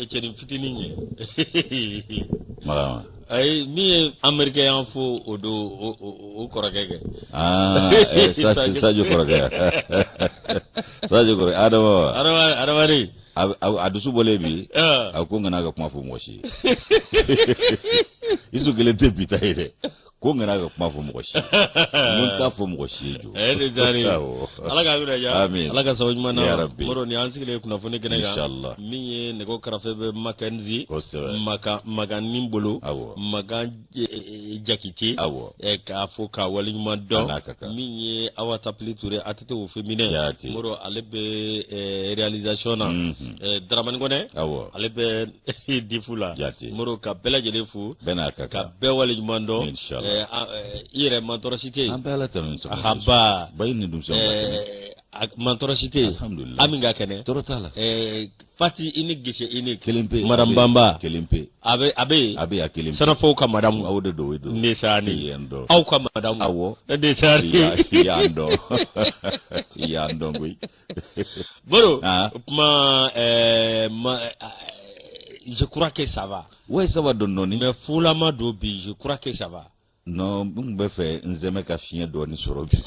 e cɛni fitinin ye marahaba ayi min ye amerikɛ y'an fo o don o kɔrɔkɛ kɛ sajo kɔrɔkɛ sajo kɔrɔkɛ adama adama adama de a dusu bɔlen bi a ko n kana ka kuma fɔ mɔgɔ si ye isu kelen tɛ bi ta ye dɛ ko n kana ka kuma fɔ mɔgɔ si mun t'a fɔ mɔgɔ si ye jo eh, ala k'an kunna ja ala ka sababu ɲuman na moro ni an sigilen kunnafoni kɛnɛ kan min ye nɛgɛ karafe bɛ makanzi makan makan ni bolo makan eh, eh, jakite k'a fo k'a wale ɲuman dɔn min ye awa tapili ture a tɛ au féminin moro ale bɛ realisation na mhm. daramani kɔnɛ ale bɛ difu la jate moro ka bɛɛ lajɛlen fo ka bɛɛ wale ɲuman dɔn i yɛrɛ mantɔɔrɔ si tɛ yen an bɛ ala tanu ni sɔgɔma haba bayini dun mantɔɔrɔ si tɛ yen alhamdulilayi ami ka kɛnɛ tɔɔrɔ t'a la fati unique gise unique kelen pe madame banba kelen pe a bɛ a bɛ yen a bɛ a kelen pe sanafɔw ka madamu aw de don o don ne sa ni yan dɔn aw ka madamu awɔ ne sa ni yan dɔn yan dɔn koyi Baro ah. o tuma eh, eh, je crois que ça va ouais ça va dɔɔnin dɔɔnin mais fulama don bi je crois que ça va non n tun bɛ fɛ n zɛmɛ ka fiɲɛ dɔɔnin sɔrɔ bi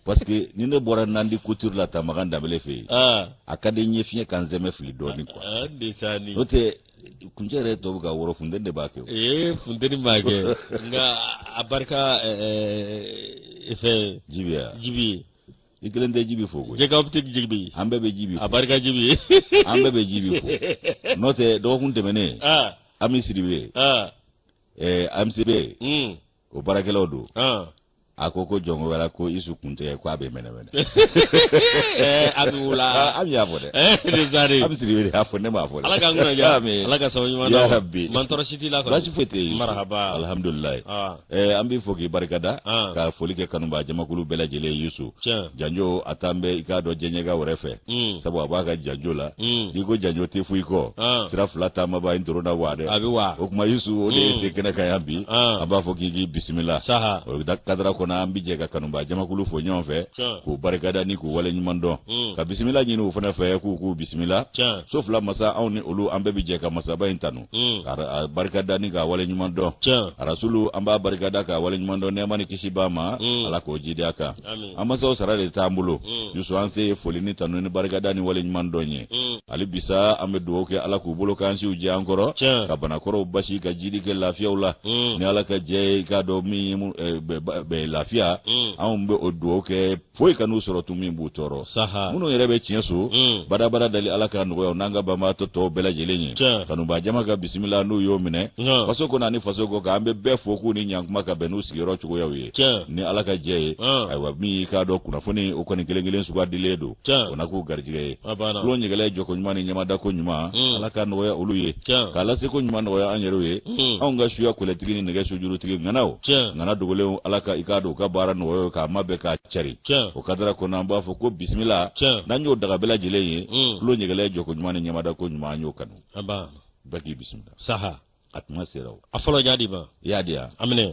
parce que ni ne bɔra nandi couture la tamagan danbele fɛ yen ah. a ka di n ye fiɲɛ ka n zɛmɛ fili dɔɔnin quoi ah, n'o tɛ kuncɛ yɛrɛ tun bɛ ka wɔrɔ funteni de b'a kɛ ee funteni m'a kɛ nka a barika fɛn jibi ya jibi ye i kelen tɛ jibi fo koyi jɛka optique jibi an bɛɛ bɛ jibi fo a barika jibi ye an bɛɛ bɛ jibi fo n'o tɛ dɔgɔkun tɛmɛnen ami siribe ami siribe o baarakɛlaw don a ko ko jɔnko wɛrɛ ko isu kun tɛ ko a bɛ mɛnɛmɛnɛ a bɛ wula ami y'a fɔ dɛ ami siribe y'a fɔ ne m'a fɔ dɛ ala k'an kunna ja ala ka sababu ɲuman na ya rabi mantɔɔrɔ si t'i la kɔni baasi foyi tɛ yen marahaba alihamudulilayi an b'i fo k'i barikada ka foli kɛ kanubaa jamakulu bɛɛ lajɛlen ye yusu janjo a t'an bɛ i k'a dɔn diɲɛɲɛka wɛrɛ fɛ Mm. sabu a b'a ka janjo la mm. n'i ko janjo tɛ foyi kɔ ah. sira fila taamabaa in toro na wa dɛ o tuma yusu o de ye mm. se kɛnɛ kan yan bi ah. a b'a fɔ k'i k'i bisimila o kadara kɔnɔ an bɛ jɛ ka kanubaa jamakulu fo ɲɔgɔn fɛ k'u barikada ni k'u wale ɲuman dɔn ka bisimila ɲini u fana fɛ k'u k'u bisimila so fila masa anw ni olu an bɛɛ bɛ jɛ ka masaba in tanu ka barikada ni k'a wale ɲuman dɔn arasulu an b'a barikada k'a wale ɲuman dɔn nɛɛma ni kisi b'a ma ala k'o jidi a kan an masaw sara de t'an bolo yusu an se ye foli ni tanu ni barikada ni waleɲuman dɔn ye hali bisa an bɛ dugawu kɛ ala k'u balo k'an siw jɛ an kɔrɔ ka banakɔrɔw basi ka jidi kɛ lafiyaw la ni ala ka jɛ ye k'a dɔn min ye lafiya anw bɛ o dugawu kɛ foyi kan'u sɔrɔ tun min b'u tɔɔrɔ minnu yɛrɛ bɛ tiɲɛso badabada dali ala ka nɔgɔya n'an ka banbaatɔ tɔw bɛɛ lajɛlen ye kanubaa jama ka bisimila n'u y'o minɛ faso kɔnɔ ani faso kɔkan an bɛ bɛɛ fo k'u ni ɲankuma ka bɛn n'u sigiyɔrɔ cogoyaw ye ni ala ka jɛ ye ayiwa min k'a dɔn kunnafoni o kɔni kelen kelen sugadilen don o na k'u garijɛgɛ ye tulo ɲɛgɛlɛ jɔko ɲuman ni ɲɛmadako ɲuman mm. ala ka nɔgɔya olu ye k'a laseko ɲuman nɔgɔya an yɛrɛw ye mm. anw ka suya kolɛtigi ni nɛgɛ sujurutigi ŋanaw ŋana dogolenw ala ka i k'a dɔn u ka baara nɔgɔya k'a mabɛn k'a cari o kadara kɔnɔ an b'a fɔ ko bisimila n'an y'o daga bɛɛ lajɛlen ye tulo mm. ɲɛgɛlɛ jɔko ɲuman ni ɲɛmadako ɲuman an y'o kanu bɛɛ k'i bisimila saha a tuma sera o a fɔlɔ y'a di ma i y'a di yan a minɛ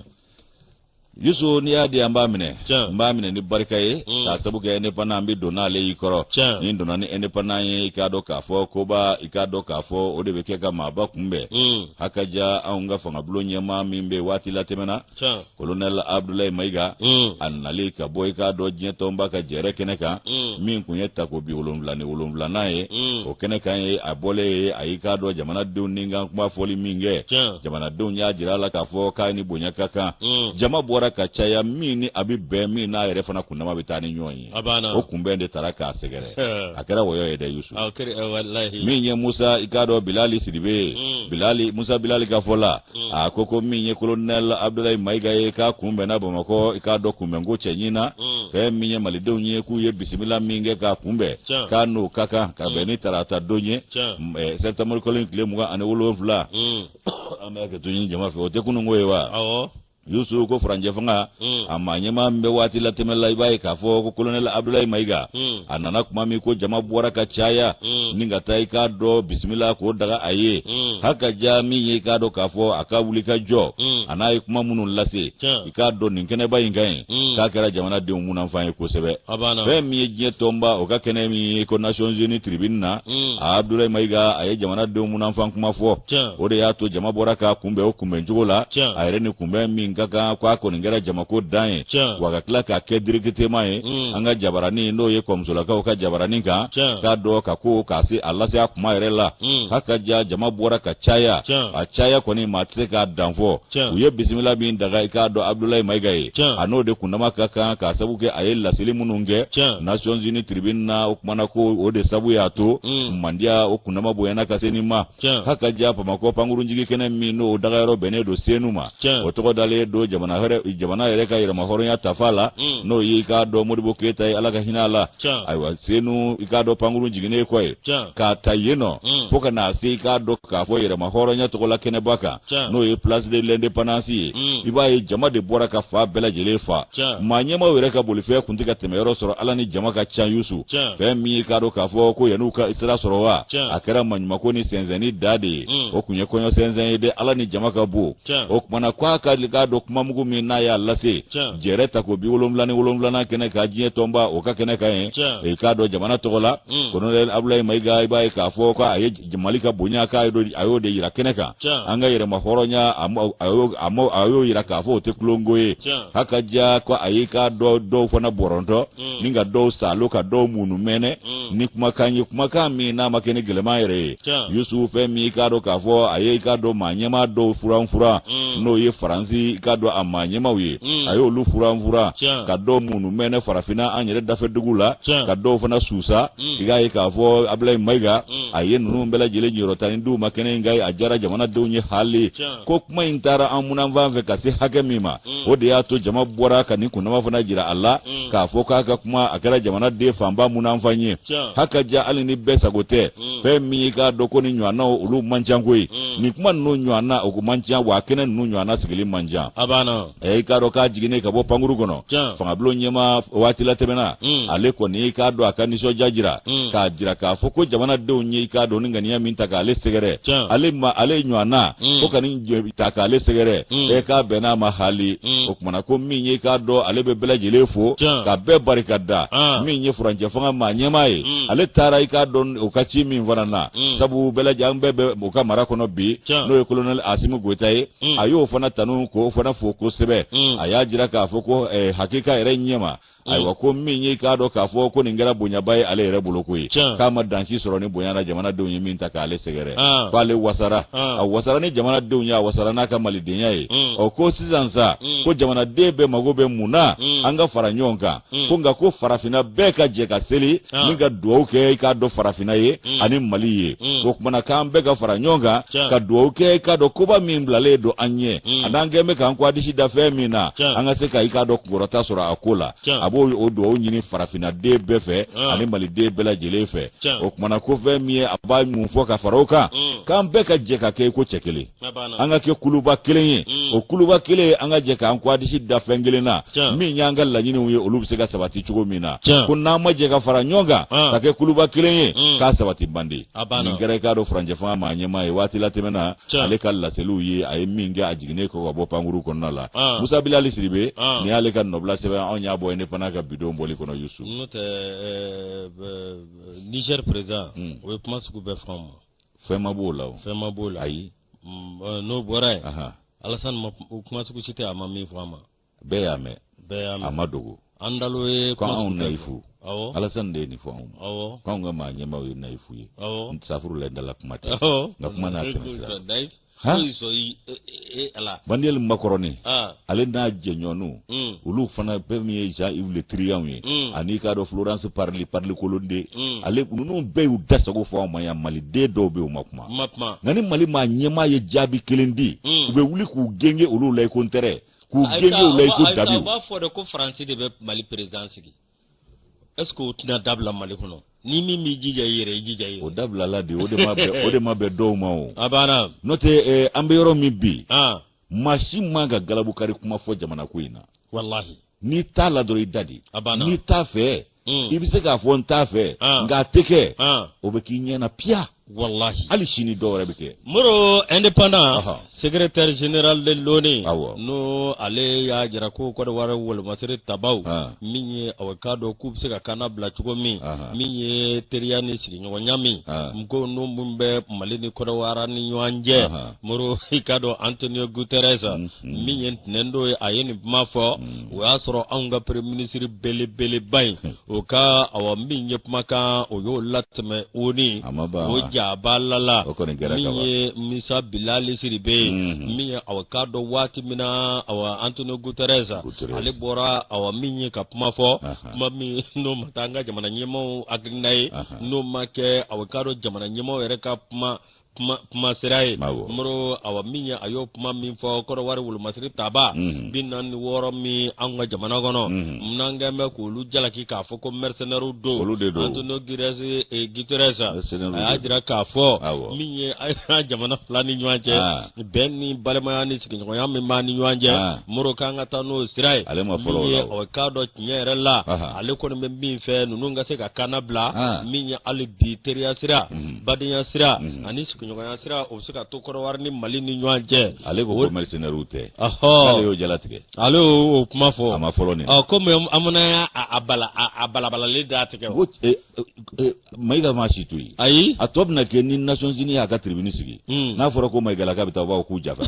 yusu n'i y'a di an b'a minɛ n b'a minɛ ni barika ye mm. k'a sabu kɛ indépendant an bɛ don n'ale y'i kɔrɔ ni n donna ni indépendant ye i k'a dɔn k'a fɔ koba i k'a dɔn k'a fɔ o de bɛ kɛ ka maaba kunbɛn mm. hakaja anw ka fangabulon ɲɛmaa min bɛ waati la tɛmɛ na kolonɛl abudulayi mayiga a nali ka bɔ i k'a dɔn diɲɛ tɔnba ka jɛrɛ kɛnɛ kan min tun ye tako bi wolonwula ni wolonwulanan ye o kɛnɛ kan ye a bɔlen ye a y'i k'a dɔn jamanadenw ni kan kuma fɔli min kɛ jamanadenw y'a jira a la k'a fɔ k'a ni bonya ka kan jama bɔra ka caya min ni a bɛ bɛn min n'a yɛrɛ fana kundama bɛ taa ni ɲɔgɔn ye o kunbɛn de taara k'a sɛgɛrɛ a kɛra wɔyɔ ye dɛ yusu min ye musa i k'a dɔn bilali sidibe ye mm. bilali musa bilali ka fɔ la mm. a ko ko min ye kolonɛl abudulayi mayiga ye k'a kunbɛnna bamakɔ i k'a dɔn kunbɛnko cɛɲin na mm. fɛn min ye malidenw ye k'u ye bisimila min kɛ k'a kunbɛn k'a n'o ka kan ka bɛn ni tarata don ye sɛtanburukalo in tile mugan ani wolonwula an bɛ hakɛto ɲini jama fɛ o tɛ kununko ye wa yusu ko furancɛ fanga hmm. a maa ɲɛmaa min bɛ waati la tɛmɛ la i b'a ye k'a fɔ ko kolonɛl abudulayi mayiga hmm. a nana kuma min ko jama bɔra ka caya hmm. ni ka taa i k'a dɔn bisimila k'o daga a ye hakaja min ye i k'a dɔn k'a fɔ a ka wuli ka jɔ a n'a ye kuma minnu lase i k'a dɔn nin kɛnɛba in kan k'a kɛra jamanadenw munanfan ye kosɛbɛ fɛn min ye diɲɛ tɔnba o ka kɛnɛ min ye ko nations unies tribune na a abudulayi mayiga a ye jamanadenw munanfan kuma fɔ o de y'a to jama bɔra k'a kunbɛn kunbɛncogo la a yɛrɛ ni kunbɛn min ka kan ko a kɔni kɛra jamako dan ye wa ka tila k'a kɛ directement ye mm. an ka jabaranin n'o ye ko bozolakaw ka jabaranin kan k'a dɔn ka ko k'a se a lase a kuma yɛrɛ la mm. hakaja jama bɔra ka caya a caya kɔni maa tɛ se k'a danfɔ u ye bisimila min daga i k'a dɔn abudulayi mayiga ye a n'o de kundama ka kan k'a sabu kɛ a ye laseli minnu kɛ nations unies tribune na o kumana ko o de sabu y'a to mm. mandiya o kundama bonyana ka se nin ma k'a ka diya bamakɔ pankurunjigi kɛnɛ min n'o dagayɔrɔ bɛnnen don senu ma o tɔgɔ dalen don jamana yɛrɛ ka yɛrɛmahɔrɔnya tafa la mm. n'o ye i k'a dɔn modibo keyita ye ala ka hinɛ a la ayiwa senu i k'a dɔn pankurun jiginnen kɔ ye k'a ta yen nɔ mm. fo ka na se i k'a dɔn k'a fɔ yɛrɛmahɔrɔnya tɔgɔla kɛnɛba kan n'o ye place de l'independance ye mm. i b'a ye jama de bɔra ka fan bɛɛ lajɛlen fa maa ɲɛmaw yɛrɛ ka bolifɛn kun tɛ ka tɛmɛ yɔrɔ sɔrɔ ala ni jama ka ca yusu fɛn min ye k'a dɔn k'a fɔ ko yan'u ka sira sɔrɔ wa a kɛra maɲumako ni sɛnsɛnni da de ye mm. o kun ye kɔɲɔ sɛnsɛn ye de ala ni jama ka bon o kumana ko a ka k'a dɔn kumamugu min n'a y'a lase jɛrɛ tako bi wolonwula ni wolonwulanan kɛnɛ kan diɲɛ tɔnba o ka kɛnɛ kan yen i k'a dɔn jamana tɔgɔ la mm. kolonɛli abulayi mayiga i b'a ye k'a fɔ ko a ye mali ka bonya k'a a y'o de yira kɛnɛ kan an ka yɛrɛma hɔrɔnya a y'o yira k'a fɔ o tɛ tulonko ye h'a ka diya ko a y'i ka dɔ dɔw fana bɔrɔntɔ mm. ni ka dɔw salo ka dɔw munu mɛnɛ mm. ni kumakan ye kumakan min n'a ma kɛ ni gɛlɛman yɛrɛ ye yusufu fɛn min i k'a dɔn k'a fɔ a ye i k'a dɔn maa ɲɛma dɔw furan furan mm. n'o ye faransi i k'a dɔn a maa ɲɛmaw ye a y'olu furan furan ka dɔw munu mɛnɛ farafinna an yɛrɛ dafɛ dugu la ka dɔw fana susa i k'a ye k'a fɔ abilayi mayiga hmm. a ye ninnu bɛɛ lajɛlen niyɔrɔ tanin di u ma kɛnɛ in kan yen a diyara jamanadenw ye hali ko kuma in taara an munanfan fɛ ka se hakɛ min ma hmm. o de y'a to jama bɔra ka nin kundama fana jira a la hmm. k'a fɔ k'a ka kuma a kɛra jamanaden fanba munanfan ye haka ja hali ni bɛɛ sago tɛ fɛn min y'i k'a dɔn ko nin ɲɔgɔnnaw olu man ca koyi nin kuma ninnu ɲɔgɔnna o man ca wa kɛnɛ ninnu ɲɔgɔnna sigili man ca ɛ i k'a dɔn k'a jiginnen ka bɔ pankuru kɔnɔ fangabulon ɲɛmaa waati latɛmɛna hmm. ale kɔni i k'a dɔn a ka nisɔndiya jira hmm. k'a jira k'a fɔ ko jamanadenw ye i k'a dɔn nin ŋaniya min ta k'ale sɛgɛrɛ ale ma ale ɲɔgɔnna hmm. ko ka nin ta k'ale sɛgɛrɛ ɛ k'a bɛnn'a ma hali o kumana ko min ye i k'a dɔn ale bɛ bɛɛ lajɛlen fo ka bɛɛ barika da ah. min ye furancɛ fanga maa ɲɛma ye ale taara i k'a dɔn o ka ci min fana na sabu bɛɛ lajɛlen an bɛɛ bɛ o ka mara kɔnɔ bi n'o ye kolonɛli asimu goyita ye Mm. a y'o fana tanu k'o fana fo kosɛbɛ mm. a y'a jira k'a fɔ ko eh, hakika yɛrɛ ɲɛma mm. ayiwa ko min ye k'a dɔn k'a fɔ ko nin kɛra bonyaba ye ale yɛrɛ bolo koyi k'a ma dan si sɔrɔ nin bonya na jamanadenw ye min ta k'ale sɛgɛrɛ ah. k'ale wasara ah. a wasara ni jamanadenw ye a wasara n'a ka malidenya ye ɔ ko sisan sa ko jamanaden bɛɛ mago bɛ mun na an ka fara ɲɔgɔn kan hmm. ko nka ko farafinna bɛɛ ka jɛ ka seli ah. ni ka dugawu kɛ i k'a dɔn farafinna ye hmm. ani mali ye hmm. ko kumana k'an bɛɛ ka fara ɲɔgɔn kan ka dugawu kɛ i k'a dɔn koba min bilalen don an ɲɛ an'an kɛn bɛ k'an kɔgɔ disi da fɛn min na an ka se ka i k'a dɔn kunkɔrɔta sɔrɔ a ko la a b'o o dugawu ɲini farafinna den bɛɛ fɛ ah. ani mali den bɛɛ lajɛlen fɛ o kumana ko fɛn min ye a bɛ mun fɔ ka fara o kan k'an bɛɛ ka jɛ ka kɛ i ko cɛ kelen an ka kɛ kuluba kelen ye mm. o kuluba kelen an ka jɛ k'an ko adisi da fɛn kelen na min y'an ka laɲiniw ye olu bɛ se ka sabati cogo min na ko n'an ma jɛ ka fara ɲɔgɔn kan ah. ka kɛ kuluba kelen ye mm. k'a sabati bandi nin kɛra i k'a dɔn furancɛ fanga maa ɲɛmaa ye waati latɛmɛna ale ka laseliw ye a ye min kɛ a jiginnen kɔ ka bɔ pankurun kɔnɔna la ah. musa bilali siribe ah. nin y'ale ka nɔbila sɛbɛn anw y'a bɔ ye ne fana ka bidon bɔli kɔnɔ yusu n'o tɛ eh, eh, eh, niger président hmm. o ye kuma sugu bɛɛ fɔ an ma fɛn ma b'o la o fɛn ma b'o la ayi mm, eh, n'o bɔra yen alasani ma kuma sugu si tɛ a ma min fɔ an ma bɛɛ y'a mɛn bɛɛ y'a mɛn a ma dogo an dalo ye ko anw nayifu awɔ alasani de ye nin fɔ anw ma awɔ k'anw ka maa ɲɛmaaw ye nayifu ye awɔ safurulayi n dala kuma tɛ nka kuma n'a tɛmɛ sira hali sɔn i e ala. baniyɛli makɔrɔni. ale n'a jɛɲɔgɔnw. Mm. olu fana bɛɛ min ye jean yves le drianw ye. Mm. ani i k'a dɔn florence parly parly kolonde. Mm. ale ninnu bɛɛ y'u da sago fɔ anw ma yan maliden dɔw bɛ yen u ma kuma. ma kuma. nka ni mali maa ɲɛmaa ye jaabi kelen di. u bɛ wuli k'u gengen olu la i ko ntɛrɛ. k'u gengen olu la i ko dabi. a b'a fɔ de ko faransi de bɛ mali perezidan sigi. ɛseke o tɛna dabila mali kɔnɔ ni min b'i jija i yɛrɛ i jija i yɛrɛ. o dabilala de o de ma bɛn o de ma bɛn dɔw ma o. a banna. n'o tɛ ɛɛ an bɛ yɔrɔ min bi. maa si man kan ka galabu kari kuma fɔ jamana ko in na. walahi. n'i t'a la dɔrɔn i dade. a banna n'i t'a fɛ. Hmm. i bɛ se k'a fɔ n t'a fɛ. nka a tɛ kɛ. o bɛ k'i ɲɛ na piya. Walahi hali sini dɔw yɛrɛ bɛ kɛ moro indépendant secrétaire général de l'ONU n'o ale y'a jira ko kɔdɔwari wolomasiri tabaw min ye awa k'a dɔn k'u bɛ se ka kannabila cogo min min ye teriya ni sigiɲɔgɔnya min n ko n minnu bɛ mali ni kɔdɔwari ni ɲɔgɔn cɛ moro i k'a dɔn antonio guterres min ye ntɛnɛndon ye a ye nin kuma fɔ o y'a sɔrɔ anw ka premier ministre belebeleba in o ka awa min ye kumakan o y'o latɛmɛ oni o jaba lala min ye musa bilali siribe ye mhm. min ye awa k'a dɔn waati min na awa antonio guterres ale bɔra awa min ye ka kuma fɔ kuma min n'o ma taa an ka jamana ɲɛmaaw hakilina ye n'o ma kɛ awa k'a dɔn jamana ɲɛmaaw yɛrɛ ka kuma kuma kuma sira ye moro awa min ye a y'o kuma min fɔ kɔdɔwari wolomasiri taba mhm. bi naani ni wɔɔrɔ min an ka jamana kɔnɔ mhm. n'an kɔni bɛ k'olu jalaki k'a fɔ ko mɛrisenɛriw don olu de don antonio girɛsi eh, guterres a y'a jira k'a fɔ min ye a jamana fila ni ɲɔgɔn cɛ ah. bɛn ni balimaya ni sigiɲɔgɔnya min b'a ni ɲɔgɔn cɛ ah. moro k'an ka taa n'o sira ye min ye awa k'a dɔn tiɲɛ yɛrɛ la ale kɔni bɛ min fɛ ninnu ka se ka kannabila ah. min ye hali bi teriya sira mhm. badenya sira mhm. ani sigiɲɔgɔnya sira o bɛ se ka to kɔdiwari ni mali ni ɲɔgɔn cɛ ale ko ko mercenaires tɛ ale y'o jalatigɛ ale y'o kuma fɔ a ma fɔlɔ nin ɔ komi an fana y'a a bala a balabalalen d'a tigɛ ko e, e, e, mayiga ma si to yen ayi a tɔ bɛna kɛ ni nations unies y'a ka tribune sigi hmm. n'a fɔra ko mayigalaka bɛ taa u b'a fɔ k'u jafa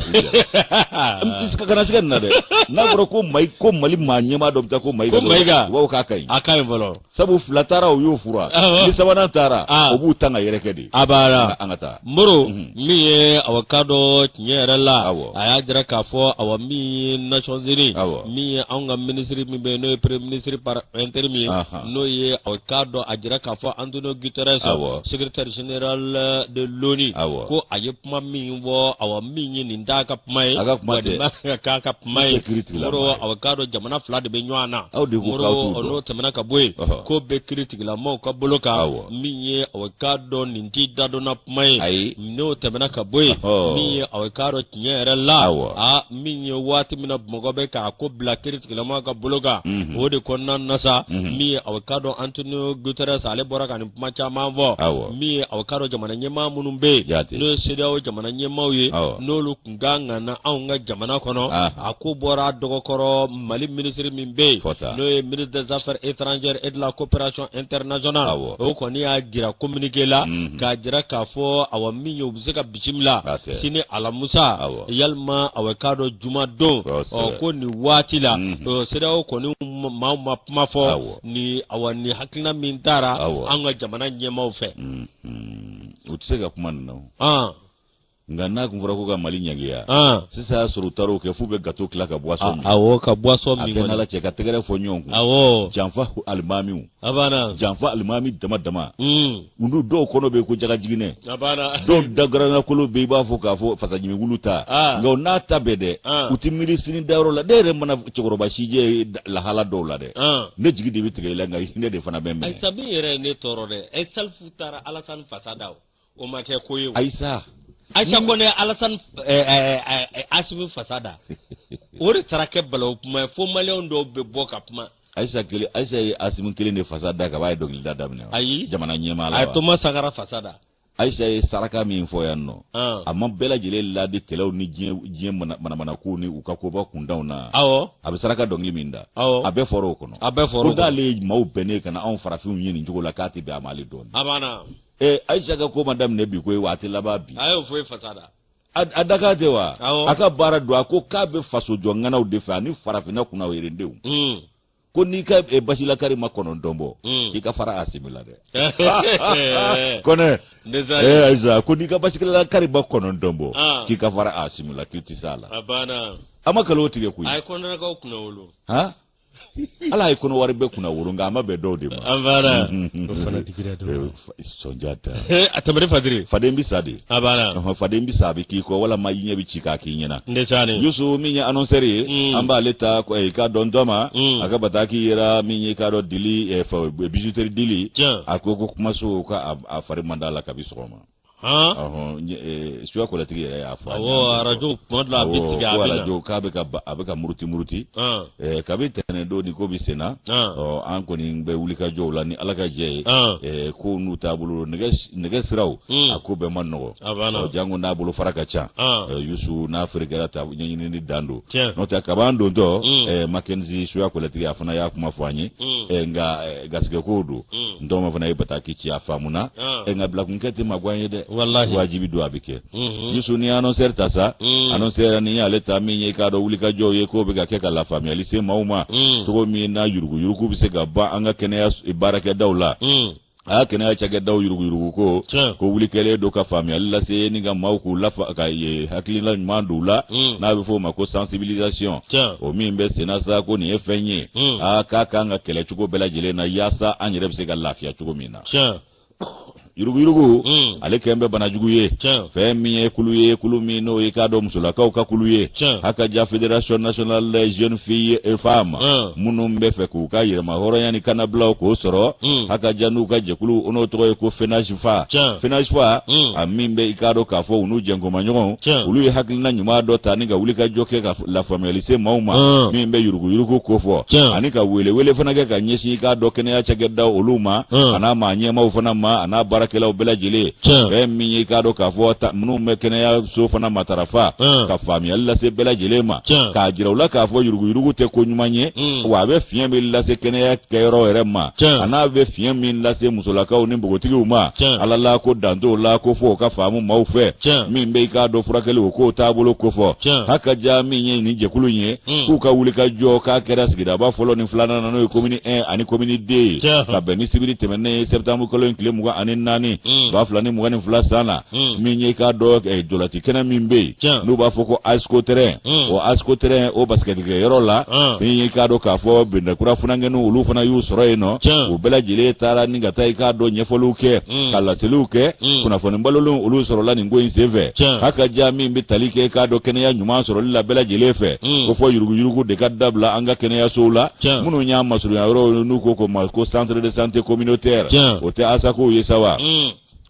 kana siga nin na dɛ n'a fɔra ko mayi ko mali maa ɲɛmaa dɔ bɛ taa ko mayiga u b'a fɔ k'a ka ɲi a ka ɲi fɔlɔ sabu fila taara o y'o fura ni sabanan taara o b'u tan ka yɛrɛkɛ de a banna an ka taa moro mhm. min ye awa k'a dɔn tiɲɛ yɛrɛ la a y'a jira k'a fɔ awa min ye nations unies min ye anw ka minisiri min bɛ yen n'o ye premier ministre par intérim ye n'o ye awa k'a dɔn a jira k'a fɔ antonio guterres secrétaire général de l'onu ko a ye kuma min fɔ awa min ye nin t'a ka kuma ye a ka kuma tɛ ka k'a ka kuma ye moro awa k'a dɔn jamana fila de bɛ ɲɔgɔn na aw de moro n'o tɛmɛna ka bɔ yen k'o bɛ kiritigɛla mɔgɔw ka bolo kan min ye awa k'a dɔn nin t'i dadonna kuma ye n'o tɛmɛna ka bɔ yen min ye awa k'a dɔn tiɲɛ yɛrɛ la a min ye waati min na mɔgɔ bɛ k'a ko bila kiritigɛla maaw ka bolo kan mhm. o de kɔnɔna na sa mhm. min ye aw k'a dɔn antonio guterres ale bɔra ka nin kuma caman fɔ min ye aw k'a dɔn jamana ɲɛmaa minnu bɛ yen n'o ye sedeyaw jamana ɲɛmaaw ye n'olu tun ka kan ka na anw ka jamana kɔnɔ a ko bɔra dɔgɔkɔrɔ mali minisiri min bɛ yen n'o ye ministre des affaires étrangères et de la coopération internationale o kɔni y'a jira communiqué la mhm. k'a jira k'a fɔ awa min ye u bɛ se ka bisimila sini alamusa yalima a bɛ k'a dɔn jumadon ɔ ko nin waati la sedeyaw kɔni maa ma kuma fɔ ni awa ni hakilina min taara an ka jamana ɲɛmaw fɛ mm, mm. u tɛ se ka kuma nin na nka n'a tun fɔra ko ka mali ɲangiya sisan y'a sɔrɔ u taara o kɛ f'u bɛ gato tila ka buwasɔn min awɔ ka buwasɔn min a bɛɛ na lajɛ ka tɛgɛrɛ fɔ ɲɔgɔn kun awɔ janfa alimamiw a banna janfa alimami dama dama mm. olu dɔw kɔnɔ bɛ ko jagajiginɛ dɔw dagaranakolo bɛ i b'a fɔ k'a fɔ fasajimi wulu ta ah. nka nata bɛ dɛ ah. u tɛ miiri sini dayɔrɔ la ne yɛrɛ mana cɛkɔrɔba sijɛ lahala dɔw lajɛ ah. ne jigi de bɛ tigɛ i la nka hinɛ de fana bɛ n minɛ. ayisa min yɛrɛ ye ne tɔɔrɔ dɛ ayi salifu taara alasani fasa da o ma kɛ ko ye o. ayisa. ayisa kɔnɛ ye alasani eh, eh, eh, asimi fasa da o de taara kɛ balawu kuma ye fo maliyɛn dɔw bɛ bɔ ka kuma. ayisa kelen ayisa ye asimi kelen de fasa da ka b'a ye dɔnkilida daminɛ ayi jamana ɲɛmaa la a ye toma sankara fasa da ayisa ye saraka min fɔ yan nɔ a ma bɛɛ lajɛlen ladi kɛlɛw ni diɲɛ manamanakow ni u ka koba kuntanw na awɔ a bɛ saraka dɔnkili min da awɔ a bɛɛ fɔra o kɔnɔ a bɛɛ fɔra o kɔnɔ ko k'ale ye maaw bɛnnen ka na anw farafinw ye nin cogo la k'a tɛ bɛn a ma ale don a banna ee ayisa ka ko ma daminɛ bi koyi wa a tɛ laban bi a y'o fɔ e fasa da a daka tɛ wa a ka baara don a ko k'a bɛ faso jɔ ŋanaw de fɛ ani farafinna kunna yɛrɛdenw hmm. ko n'i ka eh, basilakari ma kɔnɔntɔn bɔ hmm. i ka fara asimi la dɛ kɔnɛ eh, ayiwa ko n'i ka basilakari ma kɔnɔntɔn bɔ ah. k'i ka fara asimi la k'i tɛ s'a la a ma nkalon tigɛ koyi a ye kɔnɔnakaw kunnawolo ala ye kɔnɔwari bɛɛ kunnawolo nka a ma bɛn dɔw de ma a banna o fana digira dɔ la sɔnjata a tɛmɛri fadiri faden bɛ sa de a banna faden bɛ sa a bɛ k'i kɔ walima i ɲɛ bɛ ci k'a k'i ɲɛna ndesani yusu min ye annonceur ye mm. an b'ale ta eh, k'a dɔn dɔ ma mm. a ka bataki yera min ye k'a dɔn dili eh, bijouterie dili a ko ko kumaso ka a fari man d'a la kabi sɔgɔma han Ɔhɔn, n ye, eh, suya kɔlɛtigi yɛrɛ y'a fɔ. a awɔ ɲɛna. arajo kuma dɔ la a bɛ Awɔ, tigɛ a ko bɛ na arajo k'a bɛ ka ba- a bɛ ka muruti muruti. han Eh, kabi tɛnɛn don ni ko bɛ sen na. han Ɔ, an kɔni bɛ wulikajɔw la ni ala ka jɛ ye. han Eh, ko n'u taabolo nɛgɛ nɛgɛ siraw. Hmm. a ko bɛɛ ma nɔgɔ. a banna Ɔ, janko n'a bolofara ka ca. han Eh, yusu n'a feerekɛla ta ɲɛɲinini dan don. tiɲɛ n'o tɛ kabaan dontɔ. Hmm. eh, makenzi suya kɔlɛtigi a fana y'a kuma fɔ an ye. Hmm. Eh, nka eh, garisɛgɛ kow don n tɔgɔma fana ye bataki ci a faamuna ɛ nka bilakunkɛ tɛ mago ɲ'an ye dɛ wajibi don a bɛ kɛ yusu ni annonceur ta sa annonceur ni y'ale ta min ye k'a dɔn wulikajɔw ye k'o bɛ ka kɛ ka lafaamuyali se maaw ma cogo min na yuruguyurugu bɛ se ka ban an ka kɛnɛya baarakɛdaw la a y'a kɛnɛya cakɛdaw yuruguyurugu ko ko wuli kɛlen don ka faamuyali lase ni ka maaw k'u lafa ka ye hakilila ɲuman don u la n'a bɛ fɔ o ma ko sensibilisation o min bɛ senna sa ko nin ye fɛn ye hmm. aa k'a kan ka kɛlɛ cogo bɛɛ lajɛlen na yaasa an yɛrɛ bɛ se ka lafiya cogo min na yuruguyurugu hmm. ale kɛlen bɛ banajugu ye fɛn min ye kulu ye kulu min n'o ye k'a dɔn musolakaw ka kulu ye hakaja fédération nationale des jeunes filles et femmes minnu b'a fɛ k'u ka yɛrɛmahɔrɔnya ni kannabilaw k'o sɔrɔ hakaja n'u ka jɛkulu n'o tɔgɔ ye ko fenaj fa finasuwa mm. a min bɛ i k'a dɔn k'a fɔ u n'u jɛnkomaɲɔgɔnw olu ye hakilina ɲuman dɔ ta ni ka wulikajɔ kɛ ka lafaamuyali se maaw ma mm. min bɛ yuruguyurugu ko fɔ ani ka welewele fana kɛ ka ɲɛsin i k'a dɔn kɛnɛya cakɛdaw olu ma mm. a n'a maa ɲɛmaaw fana ma a n'a baarakɛlaw bɛɛ lajɛlen fɛn min ye i k'a dɔn k'a fɔ minnu bɛ kɛnɛyaso fana matarafa ka faamuyali lase bɛɛ lajɛlen ma k'a jira u la k'a fɔ yuruguyurugu tɛ ko ɲuman ye wa a bɛ fiɲɛ min lase kɛnɛya kɛyɔrɔ yɛrɛ ma a n'a bɛ fiɲɛ min lase musolakaw ni npogotigiw ma ala la ko danto la ko fɔ o ka faamu maaw fɛ min bɛ i k'a dɔn furakɛli o ko taabolo kofɔ hakaja min ye nin jɛkulu in ye hmm. k'u ka wulikajɔ k'a kɛra sigidaba fɔlɔ ni filanan na n'o ye komini 1 ani komini 2 ka bɛn ni sibiri tɛmɛnen ye septembre kalo in tile mugan ani naani hmm. ba fila ni mugan ni fila san na hmm. min ye k'a dɔn eh, jolati kɛnɛ min bɛ yen n'u b'a fɔ ko asko terrain hmm. o asko terrain o basikɛtikɛ yɔrɔ la hmm. min ye k'a dɔn k'a fɔ medinakura funankɛninw olu fana y'u sɔrɔ yen nɔ u bɛɛ lajɛlen taara ni ka taa i k'a dɔn ɲɛfɔliw kɛ ka laseliw kɛ kunnafoni balolenw olu sɔrɔla nin ko in senfɛ hakaja min bɛ tali kɛ k'a dɔn kɛnɛya ɲuman sɔrɔli la bɛɛ lajɛlen fɛ ko fɔ yuruguyurugu de ka dabila an ka kɛnɛyasow la minnu y'a masurunya yɔrɔ n'u ko ko ko centre de santé communautaire o tɛ asakow ye sa wa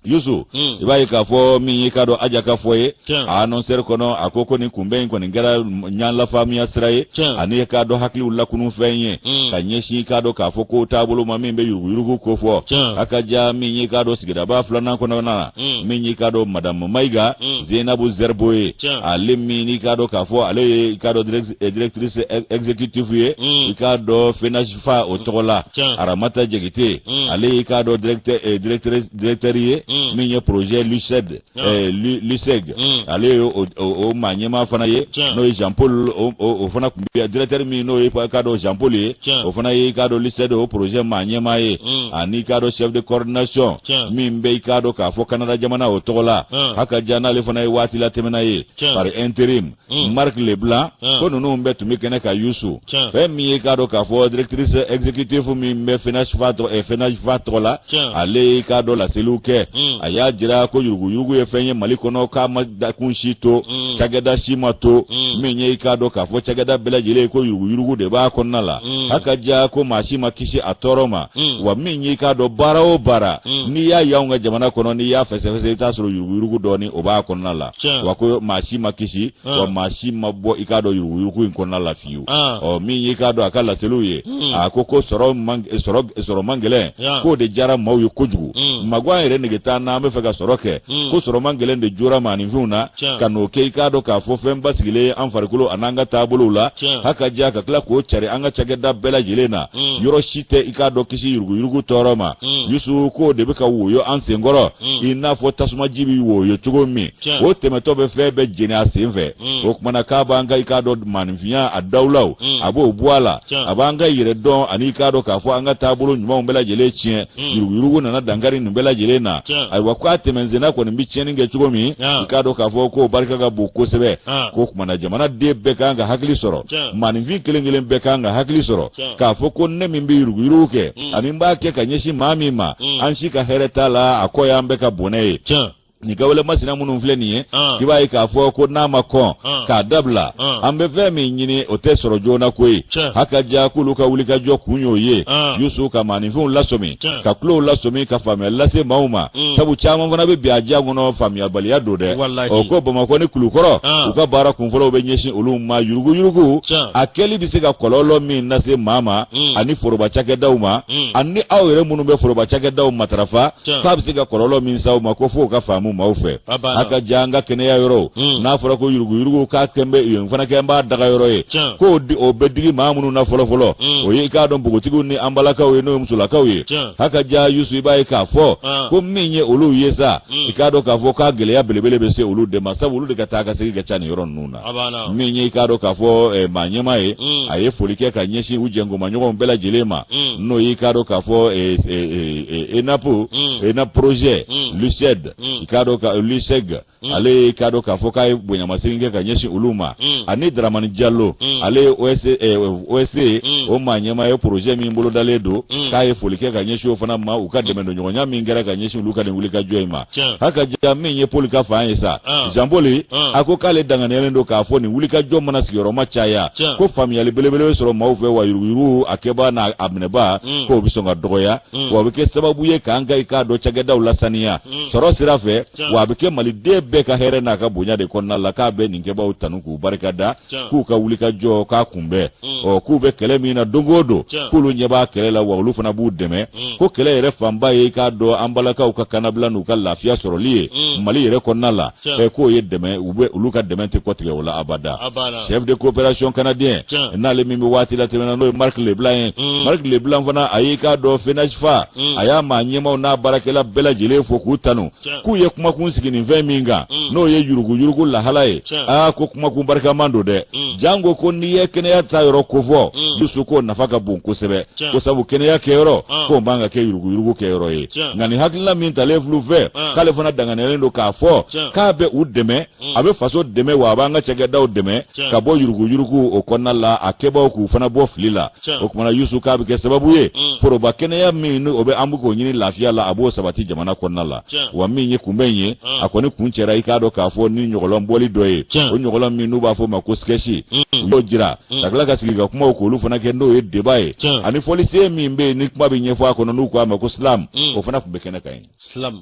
yusu hmm. i b'a ye k'a fɔ min y'i k'a dɔn aja ka fɔ ye a anɔnsɛri kɔnɔ a ko ko nin kunbɛn in kɔni kɛra ɲanlafaamuya sira ye ani k'a dɔn hakiliw lakunu fɛn ye hmm. ka ɲɛsin k'a dɔn k'a fɔ ko taabolo ma min bɛ yuruguyurugu ko fɔ a ka ja min y'i k'a dɔn sigidaba filanan kɔnɔna na hmm. min y'i k'a dɔn madamu mayiga zenabu zɛribo ye ale min y'i k'a dɔn k'a fɔ ale ye k'a dɔn directrice exécutive ye i k'a dɔn fenasi fa o tɔgɔ la aramata jakite mm. ale y'i k'a dɔn directeur eh, ye mm. min ye projet luced eh, luceg mm. ale ye o maa ɲɛmaa fana ye n'o ye jean paul o fana tun bɛ directeur min n'o ye k'a dɔn jean paul ye o fana y'i k'a dɔn luceg o projet maa ɲɛmaa ye ani k'a dɔn chef de coordination min bɛ i k'a dɔn k'a fɔ canada jamana o tɔgɔ la hakaja n'ale fana ye waati latɛmɛna ye par intérim Hmm. marc leblanc hmm. ko ninnu bɛɛ tun bɛ kɛnɛ kan yusu fɛn min ye k'a dɔn k'a fɔ directrice exécutive min bɛ fenasfa tɔgɔ la ale ye k'a dɔn laseliw kɛ hmm. a y'a jira ko yuruguyurugu ye fɛn ye mali kɔnɔ k'a ma dakun si to cakɛda si ma to min ye k'a dɔn k'a fɔ cakɛda bɛɛ lajɛlen ko yuruguyurugu de b'a kɔnɔna la hakaja ko maa si ma kisi a tɔɔrɔ ma wa min ye k'a dɔn baara o baara n'i y'a y'anw ka jamana kɔnɔ n'i y'a fɛsɛfɛsɛ i t'a sɔrɔ yuruguyurugu dɔɔni o b'a kɔnɔna la wa ko maa si ma kisi wa maa si ma bɔ i k'a dɔn yuruguyurugu in kɔnɔna la fiyewu ɔ min y'i k'a dɔn a ka laseliw ye hmm. a ko sɔrɔ man gɛlɛn k'o de diyara maaw ye kojugu hmm. magwan yɛrɛ nege t'an na an bɛ fɛ ka sɔrɔ kɛ hmm. ko sɔrɔ man gɛlɛn de jora maaninfinw na ka n'o kɛ i k'a dɔn k'a fɔ fɛn basigilen an farikolo an'an ka taabolow la hakaja ka tila k'o cari an ka cakɛda bɛɛ lajɛlen na yɔrɔ si tɛ i k'a dɔn kisi yuruguyurugu tɔɔrɔ ma mm. yusu k'o de bɛ ka woyo an senkɔrɔ mm. i n'a fɔ tasumaji bɛ woyo cogo min o tɛmɛtɔ bɛ fɛn bɛɛ jeni a sen fɛ mm. o tuma na k'a b'an ka i k'a dɔn maaninfinya a dawulaw a b'o bɔ a la a b'an ka yɛrɛdɔn ani i k'a dɔn k'a fɔ an ka taabolo ɲumanw bɛɛ lajɛlen tiɲɛ yuruguyurugu nana dankari nin bɛɛ lajɛlen na ayiwa k'a tɛmɛnsenna kɔni bɛ tiɲɛni kɛ cogo min i k'a dɔn k'a fɔ k'o barika ka bon kosɛbɛ k'o tuma na jamanaden bɛɛ kan ka hakili sɔrɔ maaninfin kelen kelen bɛɛ kan ka hakili sɔrɔ k'a fɔ ko ne min bɛ yuruguyurugu kɛ mm. ani n b'a kɛ ka ɲɛsin maa min ma mm. an si ka hɛrɛ t'a la a kɔ y'an bɛɛ ka bɔnɛ ye nin kawale masina minnu filɛ nin ye ah. i b'a ye k'a fɔ ko n'a ma kɔn ah. k'a dabila ah. an bɛ fɛn min ɲini o tɛ sɔrɔ joona koyi hakaja k'olu ka wulikajɔ kun y'o ye yusu ka maaninfinw lasɔmi ka kulow lasɔmi ka faamuya lase maaw ma mm. sabu caman fana bɛ bi a diya kɔnɔ faamuyabaliya don dɛ o ko bamakɔ ni kulukɔrɔ ah. u ka baara kunfɔlɔw bɛ ɲɛsin olu ma yuruguyurugu a kɛli bɛ se ka kɔlɔlɔ min lase maa ma mm. ani foroba cakɛdaw ma mm. ani aw yɛrɛ minnu bɛ foroba cakɛdaw matarafa k'a bɛ se ka kɔlɔlɔ min s'aw ma ko fo o ka faamu maaw fɛ a ka ja an ka kɛnɛya yɔrɔ hmm. n'a fɔra ko yuruguyurugu k'a kɛ bɛ yen fana kɛlen b'a daga yɔrɔ ye ko o bɛ digi maa minnu na fɔlɔfɔlɔ hmm. o ye i k'a dɔn npogotigiw ni an balakaw ye n'o ye musolakaw ye a ka ja yusu i b'a ye k'a fɔ ah. ko min ye olu ye sa hmm. i k'a dɔn k'a fɔ k'a gɛlɛya belebele bɛ se olu de ma sabu olu de ka taa ka segin ka ca nin yɔrɔ ninnu na min ye i k'a dɔn k'a fɔ eh, maa ɲɛma ye a ye foli kɛ ka ɲɛsin u jɛnkomaɲɔgɔnw bɛɛ lajɛlen ma n'o y'i k'a dɔn k'a fɔ eh, eh, enap enap projet luceg i k'a dɔn ka luceg ale i k'a dɔn k'a fɔ k'a ye bonyamasegin kɛ ka ɲɛsin olu ma ani daramani jalo ale ye osc o maa ɲɛma ye projet min bolodalen don k'a ye foli kɛ ka ɲɛsin o fana ma u ka dɛmɛ don ɲɔgɔnya min kɛra ka ɲɛsin olu ka nin wulikajɔ in ma ha ka ja min ye poli ka fan ye sa zanpoli a ko k'ale danganiyalen don k'a fɔ nin wulikajɔ mana sigiyɔrɔma caya ko faamuyali belebele bɛ sɔrɔ maaw fɛ wa yuruguyurugu a kɛba n'a minɛba k'o bɛ sɔn ka dɔgɔya mm. wa a bɛ kɛ sababu ye k'an ka i k'a dɔn cakɛdaw lasaniya mm. sɔrɔ sira fɛ wa a bɛ kɛ maliden bɛɛ ka hɛrɛ n'a ka bonya de kɔnɔna la k'a bɛ nin kɛbaaw tanu k'u barika da k'u ka wuli ka jɔ k'a kunbɛn mm. ɔ k'u bɛ kɛlɛ min na don o don k'olu ɲɛ b'a kɛlɛ la wa olu fana b'u dɛmɛ ko kɛlɛ yɛrɛ fanba ye i k'a dɔn an balakaw ka kannabila n'u ka lafiya sɔrɔli ye mali yɛrɛ kɔnɔna la k'o ye dɛmɛ olu ka dɛmɛ tɛ kɔtigɛ o la abada chef de coopération canadien n'ale min bɛ waati latɛmɛn na n'o ye marc leblanc ye mm. marc leblanc fana a y'i k'a dɔn fenajfa mm. a y'a maa ɲɛmaw n'a baarakɛla bɛɛ lajɛlen fo k'u tanu k'u ye kumakun sigi nin fɛn min kan mm. n'o ye yuruguyurugu lahala ye aa ko kumakun barikaman don dɛ janko ko n'i ye kɛnɛya ta yɔrɔ kofɔ yusu k'o nafa ka bon kosɛbɛ ko sabu kɛnɛya kɛyɔrɔ ah. k'o man ka kɛ yuruguyurugu kɛyɔrɔ ye nka nin hakilina min talen filɛ u fɛ ah. k'ale fana danganiyalen don k'a fɔ k'a bɛ u dɛmɛ a bɛ faso dɛmɛ wa a b'an ka cakɛdaw dɛmɛ ka bɔ yuruguyurugu o kɔnɔna la a kɛbaaw k'u fana bɔ fili la o tuma na yusu k'a bɛ kɛ sababu ye foroba kɛnɛya min ni o bɛ an bɛ k'o ɲini lafiya la a b'o sabati jamana kɔnɔna la wa min ye kunbɛn in ye a kɔni kuncɛra i k'a dɔn k'a fɔ ni ɲɔgɔlɔn bɔli dɔ ye o ɲɔgɔlɔn min n'u b'a fɔ o ma ko sketch u y'o jira ka tila ka sigi ka kumaw k'olu fana kɛ n'o ye débat ye ani fɔlisen min bɛ yen ni kuma bɛ ɲɛfɔ a kɔnɔ n'u k'a ma ko slam o fana tun bɛ kɛnɛ kan yen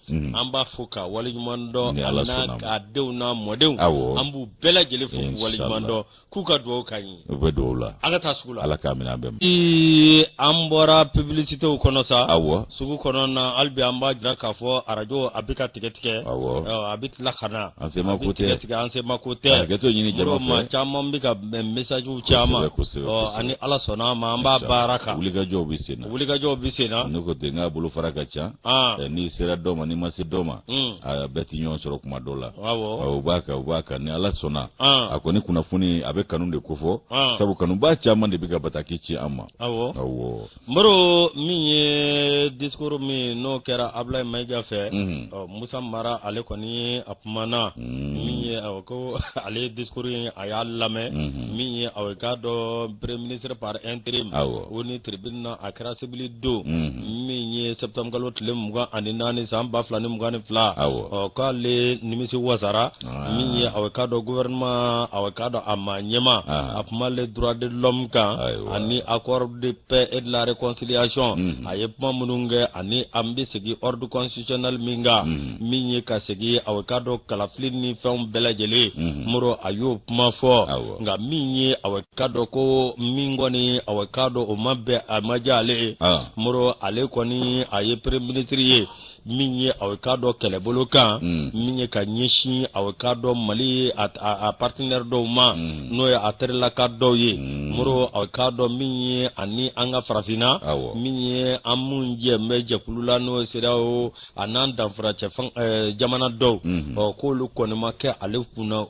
Mm. an b'a fo k'a waleɲuman dɔn a n'a ka denw n'a mɔdenw an b'u bɛɛ lajɛlen fo k'u waleɲuman dɔn k'u ka dugawu ka ɲi u bɛ dugawu la an ka taa sugu la ala k'a minɛ an bɛɛ ma ee an bɔra publicitew kɔnɔ sa awɔ sugu kɔnɔ na hali bi an b'a jira k'a fɔ arajo a bɛ ka tigɛ tigɛ awɔ a bɛ tila ka na an se ma ko tɛ tigɛ an se ma ko tɛ hakɛto ɲini jama fɛ maa caman bɛ ka messagew caman ɔ ani ala sɔnna a ma an b'a baara kan wulikajɔw bɛ sen na wulikajɔw bɛ sen na ne ko ten nk'a bolofara ka ca Ah. Eh, n'i sera dɔ ma n'i ma se dɔ ma hmm. ah, bɛɛ tɛ ɲɔgɔn sɔrɔ kuma dɔ la ah, u b'a kan u b'a kan ni ala sɔnna a kɔni kunnafoni a bɛ kanu de kofɔ sabu kanubaa caman de bɛ ka bataki ci an ma awɔ moro min ye discours min n'o kɛra abulayi mayiga fɛ mhm. musa mara ale kɔni a kumana mhm. min ye awɔ ko ale ye discours in a y'a lamɛn mhm. min ye aw k'a dɔn premier ministre par intérim onu tribune na a kɛra sibiri don min ye septembre kalo tile mugan ani naani san ba fila ni mugan ni fila ɔ k'ale nimisi wasara min ye aw ka dɔn gouvernement aw ka dɔn a ma ɲɛma a kuma le droit de l'homme kan ani accord de paix et de la réconciliation a ye kuma minnu kɛ ani an bɛ segin ordre constitutionnel min kan min ye ka segin aw ka dɔn kalafili ni fɛnw bɛɛ lajɛlen moro a y'o kuma fɔ nka min ye aw ka dɔn ko min kɔni aw ka dɔn o ma bɛn a ma diya ale ye moro ale kɔni a ye premier ministre ye min ye aw ka dɔn kɛlɛbolo kan hmm. min ye ka ɲɛsin aw ka dɔn mali a partenaire dɔw ma hmm. n'o ye a terilaka dɔw ye hmm. moro aw ka dɔn min ye ani an ka farafinna min ye an minnu jɛlen bɛ jɛkulu la n'o ye cedeao a n'an danfara cɛ eh, jamana dɔw mhm. ɔ k'olu kɔni ma kɛ ale kunna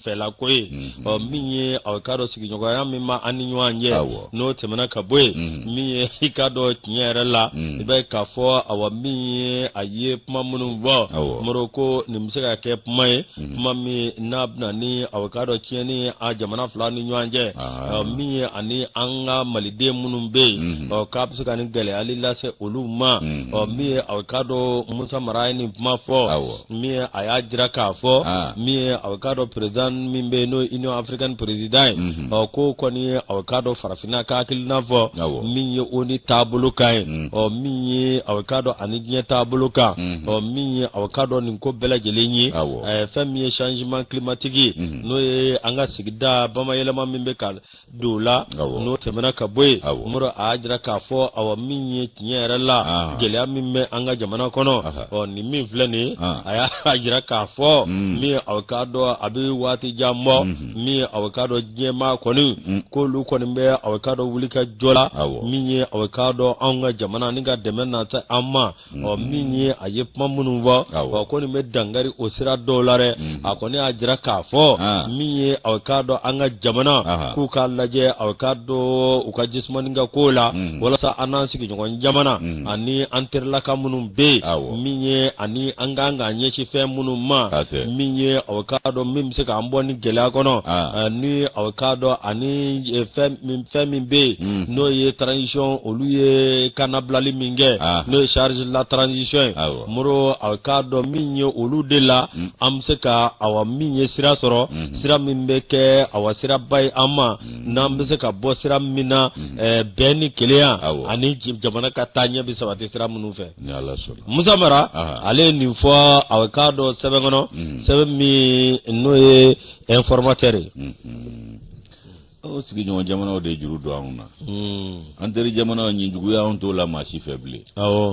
fɛlako ye mhm. ɔ min ye aw k'a dɔn sigiɲɔgɔnya min bɛ an ni ɲɔgɔn cɛ n'o tɛmɛna ka bɔ yen mhm. min ye i k'a dɔn tiɲɛ yɛrɛ la i bɛ k'a fɔ awa min ye a ye kuma minnu fɔ moro ko nin bɛ se ka kɛ kuma ye Mhm. kuma min n'a bɛna ni a bɛ k'a dɔn tiɲɛni a jamana fila ni ɲɔgɔn cɛ ah. min ye ani an ka maliden minnu bɛ yen mhm. k'a bɛ se ka ni gɛlɛyali lase olu ma mhm. min ye a bɛ k'a dɔn musa mara ye nin kuma fɔ min ye a y'a jira k'a fɔ ah. min ye a bɛ k'a dɔn président min bɛ yen n'o ye union africaine président ye k'o kɔni ye a bɛ k'a dɔn farafinna ka hakilina fɔ min ye o ni taabolo kan ye min ye a bɛ k'a dɔn ani diɲɛ taabolo kan ɔ min ye aw ka dɔn nin ko bɛɛ lajɛlen ye ɛɛ fɛn min ye changement climatique ye mhm. n'o ye an ka sigida bamayɛlɛma min bɛ ka don o la n'o tɛmɛna ka bɔ yen moro a y'a jira k'a fɔ awa min ye tiɲɛ yɛrɛ la ah. gɛlɛya min bɛ an ka jamana kɔnɔ ɔ nin min filɛ nin ye ah. a y'a jira k'a fɔ mm. min aw ka dɔn a bɛ waati jan bɔ mm-hmm. min aw ka dɔn diɲɛmaa kɔni mm. k'olu kɔni bɛ aw ka dɔn wuli ka jɔ la min ye aw ka dɔn anw ka jamana ni ka dɛmɛ nati an ma ɔ mm-hmm. min ye a ye kuma minnu fɔ wa ko nin bɛ dangari o sira dɔw la dɛ mm-hmm. a kɔni y'a jira k'a fɔ ah. min ye aw k'a dɔn an ka jamana k'u k'a lajɛ aw k'a dɔn u ka jisumani ka ko la mm-hmm. walasa an n'an sigiɲɔgɔn jamana ani an terilaka minnu bɛ yen min ye ani an ka kan k'an ɲɛsin fɛn minnu ma min ye aw k'a dɔn min bɛ se k'an bɔ nin gɛlɛya kɔnɔ ah. ani aw k'a dɔn ani eh, fɛn min fɛn min bɛ yen mm. n'o ye transition olu ye kannabilali min kɛ ah. n'o ye charte de la transition ye moro aw k'a dɔn min ye olu de la mm. an bɛ se ka awa min ye sira sɔrɔ mm-hmm. sira min bɛ kɛ awa siraba ye an ma mm. n'an bɛ se ka bɔ sira min na mm-hmm. eh, bɛn ni kelenya ani jamana ka taa ɲɛ bɛ sabati sira minnu fɛ musa mara ah. ale ye nin fɔ aw k'a dɔn sɛbɛn kɔnɔ sɛbɛn min n'o ye informateur ye. Mm-hmm. o sigiɲɔgɔn jamanaw de juru don anw na hmm. an teri jamanaw ɲin juguya anw t'o la maa si fɛ bilen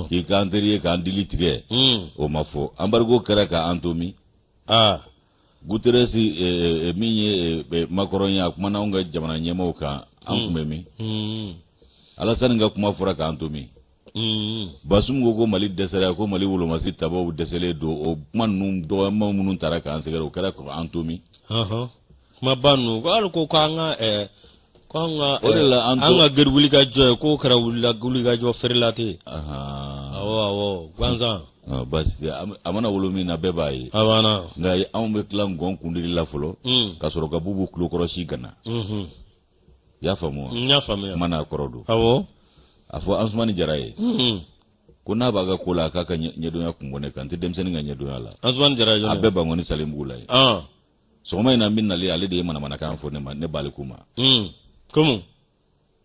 k'i k'an teri ye k'an dili tigɛ hmm. o ma fɔ anbarigo kɛra ka an to min guterres eh, eh, eh, min ye makɔrɔn ye a kumana anw ka jamana ɲɛmaaw kan an hmm. kun bɛ min alasani ka kuma fɔra k'an to min Mm. Basumu ko ko Mali dɛsɛra ko Mali wolomasi tabaw dɛsɛlen don o kuma ninnu dɔgɔyama minnu taara k'an sɛgɛrɛ o kɛra k'an to min kumaba ninnu ko hali ko k'an ka eh, k'an ka o de la eh, an ka gari wulikajɔ ye k'o kɛra wulikajɔ feerela tɛ yen awɔ awɔ gansan ah, basi tɛ a mana wolo min na bɛɛ b'a ye a banna nka anw bɛ tila ngɔn kundili la fɔlɔ mm. ka sɔrɔ ka bubu tulokɔrɔsi gana mm-hmm. i y'a faamu wa n y'a faamuya kuma n'a kɔrɔ don awɔ a fɔ ansumani jara ye hmm. ko n'a b'a ka ko la k'a ka ɲɛdɔnya kun bɔ ne kan n tɛ denmisɛnnin ka ɲɛdɔnya la ansumani jara ye a bɛ bankoni salenbugu la yen ah. sɔgɔma in na min nalen ale de ye manamanakan fɔ ne ma ne b'ale ko ma hmm. komu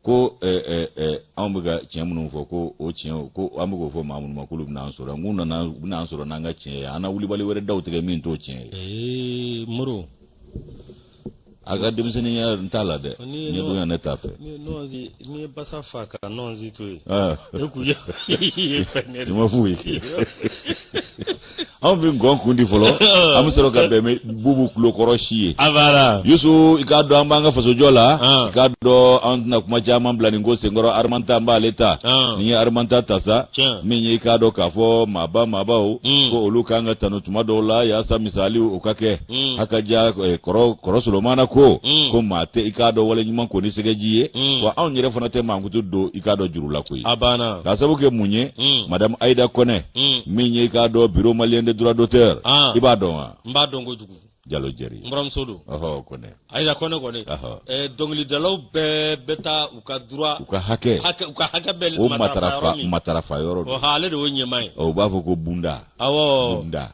ko eh, eh, eh, anw bɛ ka tiɲɛ minnu fɔ ko o tiɲɛ ko an bɛ k'o fɔ maa minnu ma k'olu bɛna an sɔrɔ n k'u nana u bɛna an sɔrɔ n'an ka tiɲɛ ye an na wulibali wɛrɛ daw tigɛ min t'o tiɲɛ ye. moro a ka denmisɛnninya n t'a la dɛ ɲɛdɔnya ne t'a fɛ n'i ye basa faa ka nɔnzi to yen e k'u ye i ma f'u ye anw bɛ ngɔn kun di fɔlɔ an bɛ sɔrɔ ka bɛn bubu tulokɔrɔsi ye yusu i k'a dɔn an b'an ka fasojɔ la i k'a dɔn an tɛna kuma caman bila nin ko senkɔrɔ arimanta an b'ale ta n'i ye arimanta ta sa min ye i k'a dɔn k'a fɔ maaba maabaw ko olu kan ka tanu tuma dɔw la yaasa misali o ka kɛ mm. haka ja eh, kɔrɔ solomana ko mm. ko maa tɛ i k'a dɔn wale ɲuman ko ni sɛgɛji ye mm. wa anw yɛrɛ fana tɛ mankutu don i k'a dɔn juru la koyi a banna k'a sabu kɛ mun ye mm. madame aida kɔnɛ mm. min ye i k'a dɔn bureau malien de droit d'auteur ah. i b'a dɔn wa n b'a dɔn kojugu jalo jɛri n buramuso don ɔhɔ kɔnɛ Ayida kɔnɛ kɔni dɔnkilidalaw bɛɛ bɛ taa u ka droit u ka hakɛ u ka hakɛ matarafa yɔrɔ don ale de ɲɛmaa ye u b'a fɔ ko BUMDA BUMDA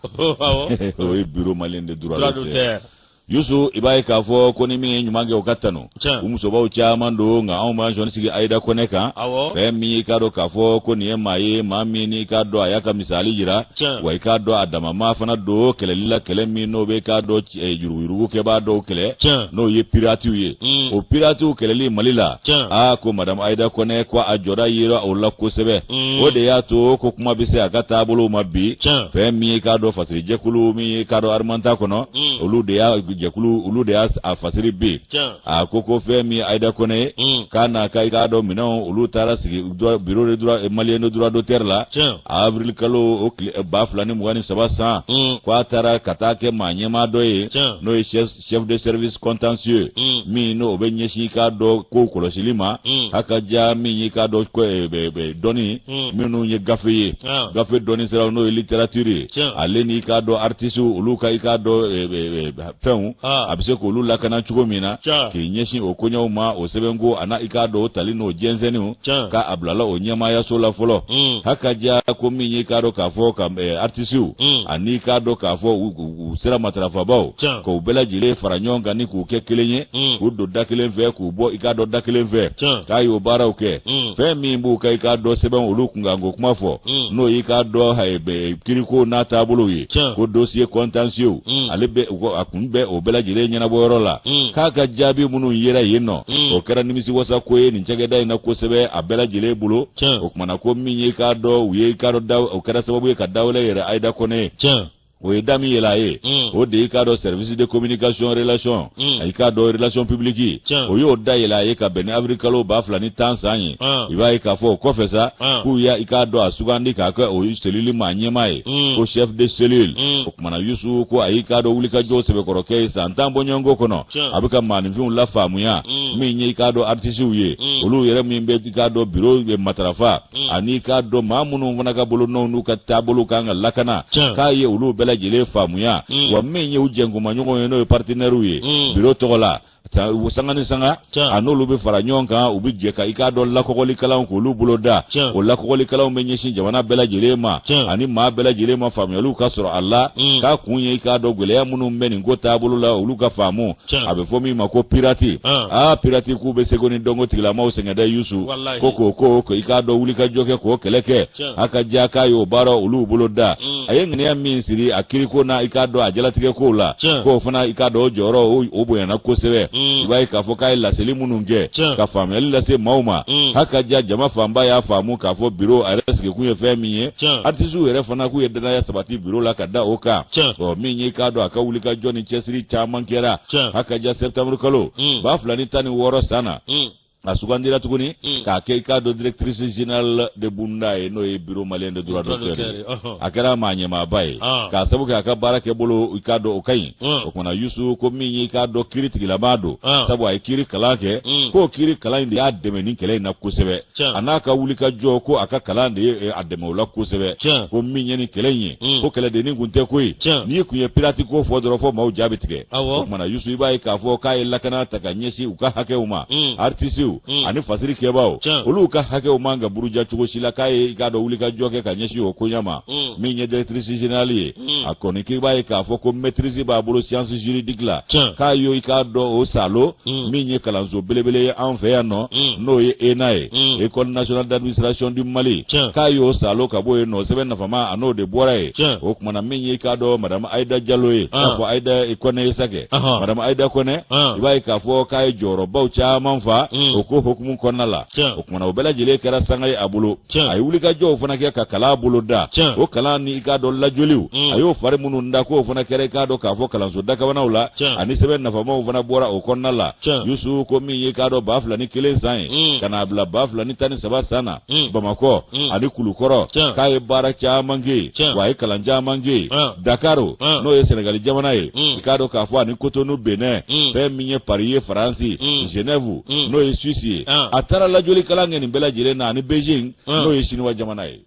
o ye bureau malien de droit d'auteur yusu i b'a ye k'a fɔ ko ni min ye ɲuman kɛ o ka tanu musobaw caman don nka anw ma jɔn sigi ayida kɔnɛ kan fɛn min y'i k'a dɔn k'a fɔ ko nin ye maa ye maa min i k'a dɔn a y'a ka misali jira wa i k'a dɔn a damama fana don kɛlɛli la kɛlɛ min n'o bɛ k'a dɔn eh, yuruguyurugukɛbaa dɔw kɛlɛ n'o ye piratiw ye mm. o piratiw kɛlɛli mali la aa ko madamu ayida kɔnɛ ko a jɔda yera o la kosɛbɛ mm. o de y'a to ko kuma bɛ se a ka taabolow ma bi fɛn min ye k'a dɔn fasiri jɛkulu min ye k'a dɔn arimanta kɔnɔ mm. olu de y'a jɛkulu olu de y'a a fasiri bi a ko ko fɛn min ye ayida kɔnɛ ye k'a na ka i k'a dɔn minɛ olu taara sigi bureau de droit malien de droit d'auteur la avril kalo o tile eh, ba fila ni mugan ni saba san mm. ko a taara ka taa kɛ maa ɲɛmaa dɔ ye n'o ye chef de service contentieux mm. min n'o bɛ ɲɛsin k'a dɔn kow kɔlɔsili ma mm. hakaja min ye k'a dɔn eh, dɔnni minnu ye gafe ye ah. gafe dɔnni sira n'o ye littérature ye ale n'i k'a dɔn artisiw olu ka i k'a dɔn eh, fɛnw ah. a bɛ se k'olu lakana cogo min na k'i ɲɛsin o koɲɛw ma o sɛbɛnko an'a i k'a dɔn o tali n'o jɛnsɛnniw ka a bilala o ɲɛmaayaso la fɔlɔ mm. hakaja ko min y'i k'a dɔn k'a fɔ ka eh, artisiw mm. ani k'a dɔn k'a fɔ u sira matarafabaaw k'u bɛɛ lajɛlen fara ɲɔgɔn kan ni k'u kɛ kelen ye mm. k'u don da kelen fɛ k'u bɔ i k'a dɔn da kelen fɛ k'a y'o baaraw kɛ fɛn min b'u ka i k'a dɔn sɛbɛn olu kunkanko kuma fɔ n'o y'i k'a dɔn eh, kiriko n'a taabolow ye Tiɲɛ. ko dossier contentieux Mm. ale bɛ u ka- a kun bɛ o bɛɛ lajɛlen ɲɛnabɔ yɔrɔ la Mm. k'a ka jaabi minnu yera yen nɔ Mm. o kɛra nimisiwasako ye nin cakɛda in na kosɛbɛ a bɛɛ lajɛlen bolo Tiɲɛ. o kuma na ko min ye k'a dɔn u ye k'a dɔn da o kɛra sababu ye ka da wɛrɛ yɛlɛ ayida kɔnɛ ye Tiɲɛ. o ye da min yɛlɛ a ye Mm. o de ye k'a dɔn service de communication relation Mm. A y'i k'a dɔn relation publique Tiɲɛ. o y'o da yɛlɛ a ye ka bɛn ni avril kalo ba fila ni tan san ye Ah. i b'a ye k'a fɔ o kɔfɛ sa Ah. k'u y'a i k'a dɔn a sugandi k'a kɛ o selili maa ɲɛmaa ye Mm. ko chef de cellule Mm. o kuma na yusu ko a y'i k'a dɔn wulikajɔ sɛbɛkɔrɔ kɛ yen san tan bɔɲɔgɔnko kɔnɔ Tiɲɛ. a bɛ ka maaninfinw lafaamuya Mm. min ye i k'a dɔn artisiw ye Mm. olu yɛrɛ min bɛ i k'a dɔn biro bɛ matarafa Mm. ani k'a dɔn maa minnu fana ka bolonɔw n'u ka taabolo kan ka lakana k'a ye olu bɛɛ lajɛlen faamuya mm. wa min ye u jɛnkumaɲɔgɔnw ye n'o ye paritenɛriw ye mm. biro tɔgɔ la u sanga ni sanga a n'olu bɛ fara ɲɔgɔn kan u bɛ jɛ ka i k'a dɔn lakɔgɔlikalanw k'olu boloda o lakɔgɔlikalanw bɛ ɲɛsin jamana bɛɛ lajɛlen ma ani maa bɛɛ lajɛlen ma faamuyaliw ka sɔrɔ a la k'a kun ye i k'a dɔn gɛlɛya minnu bɛ nin ko taabolo la olu ka faamu a bɛ fɔ min ma ko pirati aa pirati k'u bɛ seko ni dɔnko tigilamaw sɛgɛn dɛ yusu ko k'o ko ko i k'a dɔn wuli ka jɔ kɛ k'o kɛlɛ kɛ hakaja k'a y'o baara olu bolo da mm. a ye ŋaniya min siri a kiriko na i k'a dɔn a jalatigɛ kow la k'o fana i k'a dɔn o jɔyɔrɔ o bonyana kosɛbɛ mm. i b'a ye k'a fɔ k'a ye laseli minnu kɛ ka faamuyali lase maaw ma mm. hakaja jama fanba y'a faamu k'a fɔ biro a yɛrɛ sigikun ye fɛn min ye artisiw yɛrɛ fana k'u ye danaya sabati biro la ka da o kan ɔ min ye i k'a dɔn a ka wuli ka jɔ cɛsiri caman kɛra hakaja septembre kalo hmm. ba fila ni tan ni wɔɔrɔ san na hmm. a sugandira tuguni hmm. k'a kɛ i k'a dɔn directrice générale de BUMDA ye n'o ye bureau malien de droit d'auteur ye a kɛra maa ɲɛmaaba ye ah. k'a sabu kɛ a ka baara kɛ bolo i k'a dɔn o ka ɲi o tumana yusu ko min y'i k'a dɔn kiri tigilama don ah. sabu a ye kiri kalan kɛ k'o kiri kalan in de y'a dɛmɛ nin kɛlɛ in na kosɛbɛ a n'a ka wuli ka jɔ ko a ka kalan de ye eh, a dɛmɛ o la kosɛbɛ ko min ye nin kɛlɛ in ye mm. ko kɛlɛdennin kun tɛ koyi n'i kun ye pirati ko fɔ dɔrɔn fo maaw ja bɛ tigɛ o tumana yusu i b'a ye k'a fɔ k'a ye lakana ta ka ɲɛsin u ka hakɛw ma mm. aritisiw mm. ani fasiri kɛbaaw olu ka hakɛw man ka buruja cogo si la k'a ye i k'a dɔn wuli ka jɔ kɛ ka ɲɛsin o koɲa ma min ye directrice générale ye Hmm. a kɔni k'i b'a ye k'a fɔ ko maîtrise b'a bolo science juridique la k'a y'o i k'a dɔn o salo hmm. min ye kalanso belebele ye an fɛ yan nɔ hmm. n'o ye ENA ye école nationale d'administration du Mali k'a y'o salo ka bɔ yen nɔ sɛbɛn nafama a n'o de bɔra yen o tumana min ye i k'a dɔn madame Aïda Diallo ye ah. k'a fɔ Aïda Kɔnɛ ye sa kɛ madame Aïda Kɔnɛ ah. i b'a ye k'a fɔ k'a ye jɔyɔrɔbaw caman fa o ko hukumu kɔnɔna la o tumana o bɛɛ lajɛlen kɛra sanga ye a bolo tiɲɛ a ye wulikajɔw fana kɛ ka kalan bolo da tiɲɛ o kalan ni i k'a dɔn lajɔliw mm. a y'o fari minnu da k'o fana kɛra i k'a dɔn k'a fɔ kalanso dakabanaw la tiɲɛ ani sɛbɛn nafamaw fana bɔra o kɔnɔna la tiɲɛ yusu ko min ye i k'a dɔn ba fila ni kelen san ye mm. ka n'a bila ba fila ni tan ni saba san na mm. bamakɔ ani kulukɔrɔ k'a ye baara caman kɛ yen wa a ye kalan caman kɛ yen dakaro n'o ye sɛnɛgali jamana ye i k'a dɔn k'a fɔ ani kotonu benɛn fɛn min ye pari ye faransi zenɛvu mm. n'o ye suisse ye ah. a taara lajɔli kalan kɛ nin bɛɛ lajɛlen na ani beijing ah. n'o ye siniwa jamana ye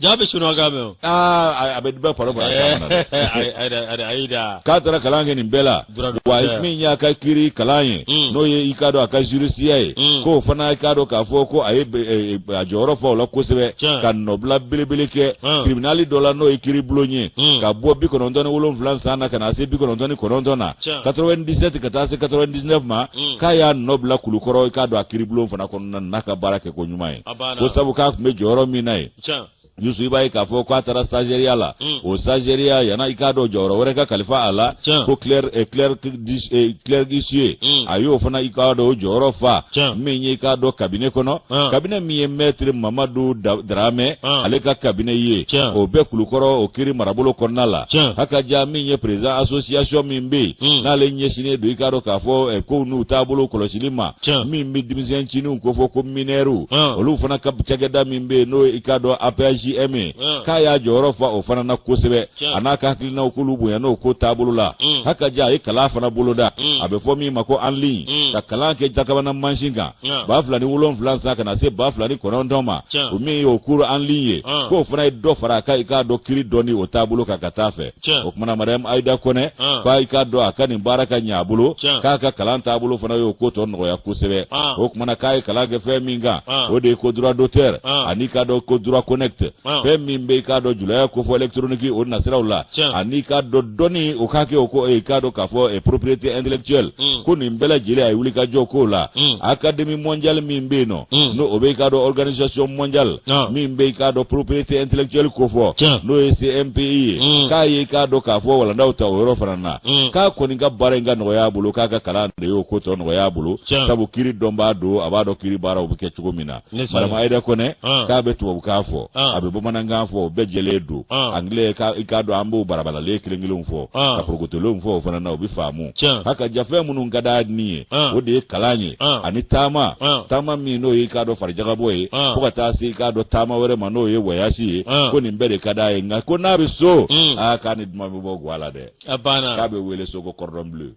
jaa bɛ siniwa kan mɛn o aa a bɛ bɛɛ fara fara Aïda k'a taara kalan kɛ nin bɛɛ la wa min y'a ka kiri kalan ye mm. n'o ye i k'a dɔn a ka jurisiya ye mm. k'o fana i k'a dɔn k'a fɔ ko a ye e, e, a jɔyɔrɔ fa o la kosɛbɛ ka nɔbila belebele kɛ ah. tribunali dɔ la n'o ye kiri bulon ye ka bɔ bi kɔnɔntɔn ni wolonwula san na ka na se bi kɔnɔntɔn ni kɔnɔntɔn na 97 ka taa se 99 ma mm. k'a y'a nɔ bila kulukɔrɔ i k'a dɔn a kiribulon fana kɔnɔna na n'a ka baara kɛ ko ɲuman ye ko sabu k'a tun bɛ jɔyɔrɔ min na ye yusu i b'a ye k'a fɔ k'a taara stagiaireya la mm. o stagiaireya na i k'a dɔn jɔyɔrɔ wɛrɛ ka kalifa a la ko clerc d'huissier eh, eh, mm. a y'o fana i k'a dɔn o jɔyɔrɔ fa min ye i k'a dɔn kabine kɔnɔ ah. kabine min ye mɛtiri mamadu daramɛ ah. ale ka kabine ye o bɛ kulukɔrɔ o kiri marabolo kɔnɔna la hakaja min ye président association min bɛ yen hmm. n'ale ɲɛsinnen don i k'a dɔn k'a fɔ eh, ko n'u taabolo kɔlɔsili ma min bɛ denmisɛn ncininw ko fɔ ko mineurs hmm. olu fana ka cakɛda min bɛ yen n'o i k'a dɔn APHJM ye hmm. k'a y'a jɔyɔrɔ fa o fana na kosɛbɛ a n'a ka hakilinaw k'olu bonya n'o ko taabolo la hakaja a ye kalan fana boloda a bɛ fɔ min ma ko en ligne ka kalan kɛ jakabana mansin kan ba fila ni wolonwula san ka na se ba fila ni kɔnɔntɔn ma o min ye o cours en ligne ye k'o fana ye dɔ fara a kan i k'a dɔn kiri dɔnni o taabolo kan ka taa fɛ o kumana madame ayida kɔnɛ f'a i k'a dɔn a ka nin baara ka ɲɛ a bolo k'a ka kalan taabolo fana y'o ko tɔ nɔgɔya kosɛbɛ o kumana k'a ye kalan kɛ fɛn min kan o de ye ko droit d'auteur ani k'a dɔn ko droit connexe fɛn min bɛ i k'a dɔn julaya kofɔ électronique o nasiraw la ani k'a dɔn dɔnni o k'a kɛ o ko i k'a dɔn k'a fɔ eh, propriété intellectuelle ko nin bɛɛ lajɛlen a ye wulikajɔ k'o la académie mondiale min bɛ yen n'o Mm. n'o o bɛ i k'a dɔn organisation mondiale Ah. min bɛ i k'a dɔn propriété intellectuelle ko fɔ Tiɲɛ. n'o ye OMPI ye Mm. k'a ye i k'a dɔn k'a fɔ walandaw ta o yɔrɔ fana na Mm. k'a kɔni ka baara in ka nɔgɔya a bolo k'a ka kalan de y'o ko tɔ nɔgɔya a bolo Tiɲɛ. sabu kiri dɔnbaa don a b'a dɔn kiri baaraw bɛ kɛ cogo min na Ne sa- madame Aida Kone Ah. k'a bɛ tubabukan fɔ Ah. a bɛ bamanankan fɔ o bɛɛ jɛlen don Ah. anglais kan i k'a dɔn an b'o barabalalen kelen-kelenw fɔ Ah. ka porokotolenw fɔ o fana na o bɛ faamu Tiɲɛ. hakaja fɛn minnu ka d'a ni ye An. o de ye kalan ye An. ani taama An. taama min n'o ye i k'a dɔn farijagabɔ ye An. fo ka taa se i k'a dɔn taama wɛrɛ ma n'o ye wayasi ye An. ko nin bɛɛ de ka d'a ye nka ko n'a bɛ so Mm. aa k'a ni duman bɛ bɔ gwa la dɛ A banna. k'a bɛ wele so ko cordon bleu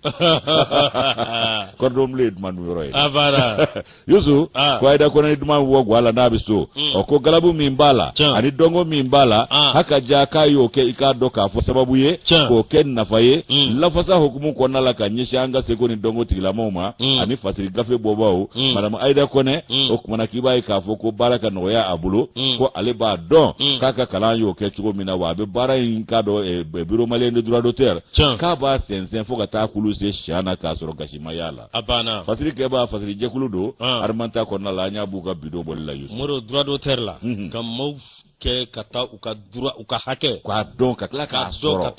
cordon bleu ye duman dun yɔrɔ ye A banna. yusu ah. ko ayida kɔnɛ ni duman bɔ gwa la n'a bɛ so mm. ɔ ko galabu min b'a la ani dɔnko min b'a la ah. hakaja k'a y'o kɛ i k'a dɔn k'a fɔ sababu ye k'o kɛ nafa ye mm. lafasa hukumu kɔnɔna la ka ɲɛsin an ka seko ni dɔnko tigilamɔgɔw ma mm. ani fasiri gafe bɔbaaw madamu ayida kɔnɛ o kumana k'i b'a ye k'a fɔ ko baara ka nɔgɔya a bolo ko ale b'a dɔn k'a ka kalan y'o kɛ cogo min na wa a bɛ baara in k'a dɔn eh, bureau malien de droit d'auteur k'a b'a sɛnsɛn fo ka taa kulu se siya na k'a sɔrɔ gasi ma y'a la a banna fasiri kɛba fasiri jɛkulu don ah. arimanta kɔnɔna la an y'a b'u ka bidon bɔli la yusu bureau droit d'auteur la mhm. ka maaw kɛ ka taa u ka droit u ka hakɛ k'a dɔn ka tila k'a sɔrɔ ka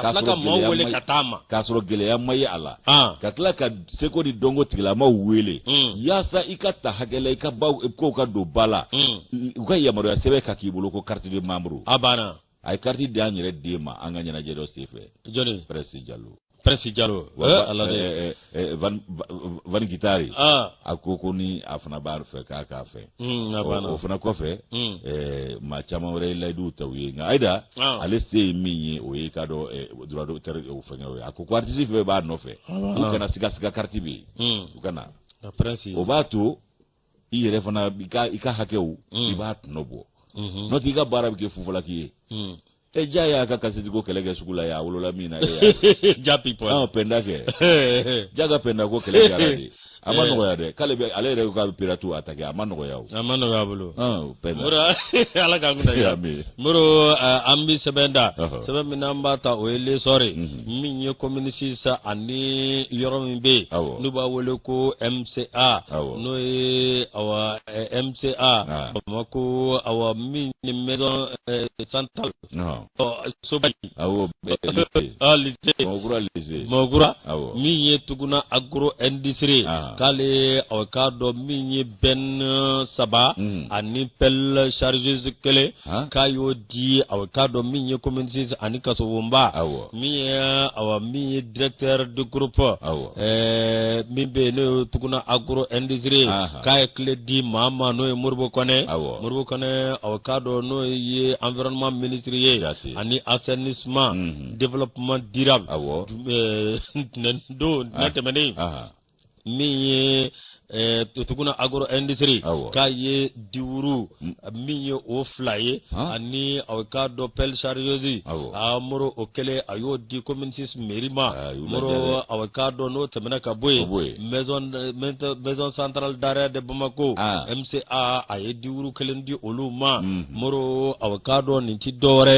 tila ka maaw wele ka taa ma k'a sɔrɔ gɛlɛya ma ye a la ah. ka tila ka seko ni dɔnko tigilamaw wele hmm. yaasa i ka ta hakɛ la i ka baw kow ka don ba la hmm. u ka yamaruya sɛbɛn ka k'i bolo ko carte de membre a banna a ye kariti di an yɛrɛ den ma an ka ɲɛnajɛ dɔ senfɛ jɔni Prince Diallo Prince Diallo ala den Van Guitare a ko ko ni a fana b'a fɛ k'a k'a fɛ o fana kɔfɛ maa caman wɛrɛ ye layidu ta u ye nka ayida ale se ye min ye o ye k'a dɔn droit d'auteur o fɛngɛ o ye a ko ko aritisi fɛn b'a nɔfɛ u kana siga siga kariti bɛ yen u kana o b'a to i yɛrɛ fana i ka i ka hakɛw mm. i b'a tɔnɔ bɔ mm-hmm. n'o tɛ i ka baara bɛ kɛ fufalaki ye mm. e ja y'a ka kasɛti ko kɛlɛ kɛ sugu la y'a wolola min na e ja people an pɛnda kɛ ja ka pɛnda ko kɛlɛ kɛra de a ma eh. nɔgɔya dɛ k'ale bɛ ale yɛrɛ k'a bɛ pirate attaquer a ma nɔgɔya o a ma nɔgɔya bolo pɛnda moro ala k'an kunnadiya moro an bɛ sɛbɛn da sɛbɛn min n'an b'a ta o ye l'essor min ye commune six sa ani yɔrɔ min bɛ yen n'u b'a wele ko mca n'o ye awa mca ah. bamakɔ awa min ye maison eh, centrale ɔ soba in mɔgura min ye tuguna agro industrie ah. k'ale aw k'a dɔn min ye benne saba hmm. ani pelle chargeuse kelen ah. k'a y'o di aw k'a dɔn min ye commune six ani kasobonba awɔ min ye awa min ye directeur du groupe awɔ ɛɛ min bɛ yen n'o ye tuguna agro industrie k'a ye clé di maa ma n'o ye modibo kɔnɛ awɔ modibo kɔnɛ aw k'a dɔn n'o ye environnement ministre ye ani assainissement mhm. développement durable awɔ ɛɛ ntɛnɛndon ntɛnɛ tɛmɛnen min ye eh, tuguna agro industrie Awɔ. k'a ye diwuru Mm. min ye o fila ye Han. ani aw k'a dɔn pelle chargeuse Awɔ. a moro o kɛlen a y'o di commune six mairie ma Ah, y'u lajɛ moro dɛ. aw k'a dɔn n'o tɛmɛna ka bɔ Ka bɔ yen. yen maison eh, maison centrale d'arrêt de bamako Ah. mca a ye di wuru kelen di olu ma moro aw k'a dɔn nin tɛ dɔwɛrɛ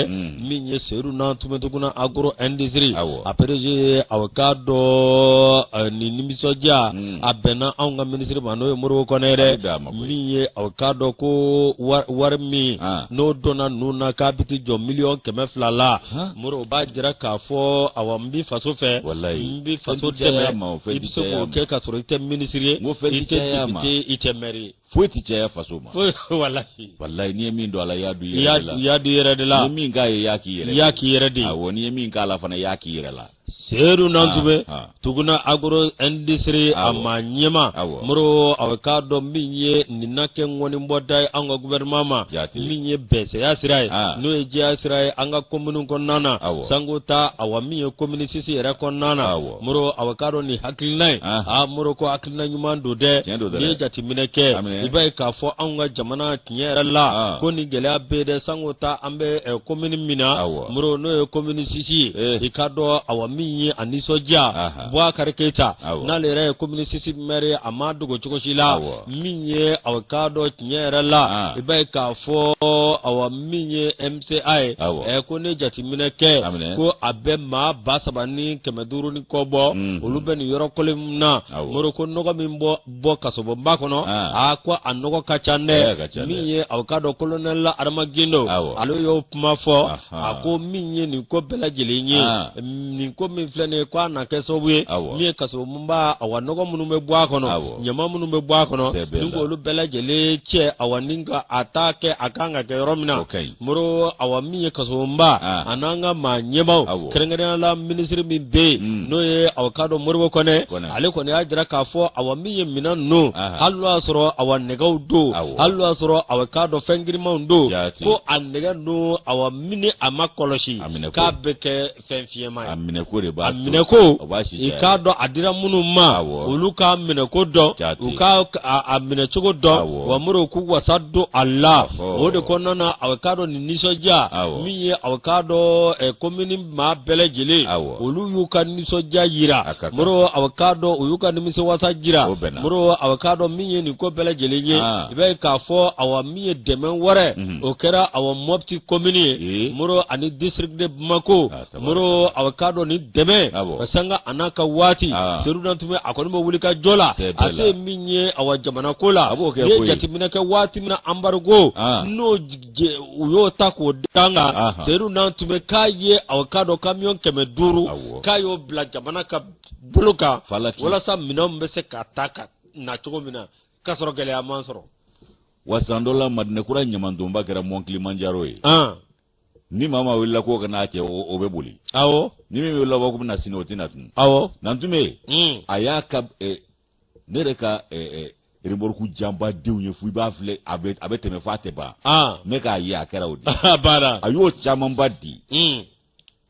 min ye seyidu nantumɛ tuguna agro industrie après aw k'a dɔn nin nimisɔndiya a bɛnna anw ka minisiri ma n'o ye modibo kɔnɛ yɛrɛ min ye aw k'a dɔn ko wari min n'o donna ninnu na k'a bɛ t'i jɔ miliyɔn kɛmɛ fila la moro o b'a jira k'a fɔ awa n bɛ faso fɛ n bɛ faso dɛmɛ i bɛ se k'o kɛ ka sɔrɔ i tɛ minisiri ye i tɛ depite i tɛ mɛri ye foyi tɛ caya faso ma foyi walahi walahi n'i ye min don a la i y'a don i yɛrɛ de la i y'a don i yɛrɛ de la n'i ye min k'a ye i y'a k'i yɛrɛ de la i y'a k'i yɛrɛ de ye awɔ n'i ye min k'a la fana i y'a k'i yɛrɛ la seyidu nantumɛ ah, ah. tuguna agro industrie a ma ɲɛmaa moro aw k'a dɔn min ye nin na kɛ ŋɔnibɔda ye an ka gouvernement ma min ye bɛsɛya sira ye ah. n'o ye jɛya sira ye an ka komini kɔnɔna na sango ta awa min ye komini sisi yɛrɛ kɔnɔna na moro aw k'a dɔn nin hakilina ye a moro ko hakilina ɲuman don dɛ n'i ye jateminɛ kɛ i b'a ye k'a fɔ anw ka jamana tiɲɛ yɛrɛ la ah. ko nin gɛlɛya bɛ dɛ sanko ta an bɛ eh, komini min na moro n'o ye komini sisi ye eh. i k'a dɔn awa min ye a nisɔndiya bubakari keyita n'ale yɛrɛ ye komini sisi mɛri a ma dogo cogo si la min ye aw k'a dɔn tiɲɛ yɛrɛ la ah. i b'a ye k'a fɔ awa min ye se a ye ɛ ko ne jateminɛ kɛ ko a bɛ maa ba saba ni kɛmɛ duuru ni kɔ bɔ mhm. olu bɛ nin yɔrɔ kelen min na moro ko nɔgɔ min bɛ bɔ kasobonba kɔnɔ aa ko a nɔgɔ ka ca dɛ min ye aw k'a dɔn kolonɛli la adama gindo ale y'o kuma fɔ a ko min ye nin ko bɛɛ lajɛlen ye nin ko min filɛ nin ye ko a na kɛ sababu ye min ye kasobon nba awa nɔgɔ minnu bɛ bɔ a kɔnɔ ɲama minnu bɛ bɔ a kɔnɔ ni k'olu bɛɛ lajɛlen cɛ awa ni ka a ta kɛ a kan ka kɛ yɔrɔ min na moro awa min ye kasobonba a n'an ka maa ɲɛmaw kɛrɛnkɛrɛnnenya la minisiri min bɛ yen hmm. n'o ye aw k'a dɔn modibo kɔnɛ ale kɔni y'a jira k'a fɔ awa min ye minɛn ninnu hali n'o y'a sɔrɔ awa nɛgɛw don hali n'o y'a sɔrɔ aw k'a dɔn fɛn girimanw don ko a nɛgɛ ninnu awa min ni a ma kɔlɔsi k'a bɛ kɛ fɛn fiɲɛma ye a minɛko de b'a a minɛko i k'a dɔn a dira minnu ma olu k'a minɛko dɔn u k'a minɛcogo dɔn wa moro k'u wasa don a la o de kɔnɔna na a k'a dɔn nin nisɔndiya min ye a k'a dɔn eh, komini maa bɛɛ lajɛlen olu y'u ka nisɔndiya yira moro a k'a dɔn u y'u ka nimisiwasa jira moro a k'a dɔn min ye nin ko bɛɛ lajɛlen ye ah. i b'a ye k'a fɔ awa min ye dɛmɛ wɛrɛ mhm. o kɛra awa mɔti kɔmini ye moro ani disiriki de bamako moro aw k'a dɔn nin dɛmɛ sanga a n'a ka waati seyidu nantume a kɔni bɛ wuli ka jɔ la a se min ye awa jamana ko la a b'o kɛ n'i ye jateminɛ kɛ waati min na anbarigo n'o u y'o ta k'o da an kan seyidu nantume k'a ye aw k'a dɔn kamiyɔn kɛmɛ duuru k'a y'o bila jamana ka bolo kan walasa minɛnw bɛ se ka ta ka na cogo min na k'a sɔrɔ gɛlɛya ma sɔrɔ wa san dɔ la madinakura ɲamantonba kɛra mɔn kilimanjaro ye ni maa min wulila k'o ka na a cɛ o bɛ boli awɔ ni min wulila k'o bɛ na sini o tɛ na tun awɔ nantume hmm. a y'a ka ne yɛrɛ ka remorku janba denw ye fo i b'a filɛ a bɛ a bɛ tɛmɛ f'a tɛ ban ne k'a ye a kɛra o de a banna a y'o camanba di hmm.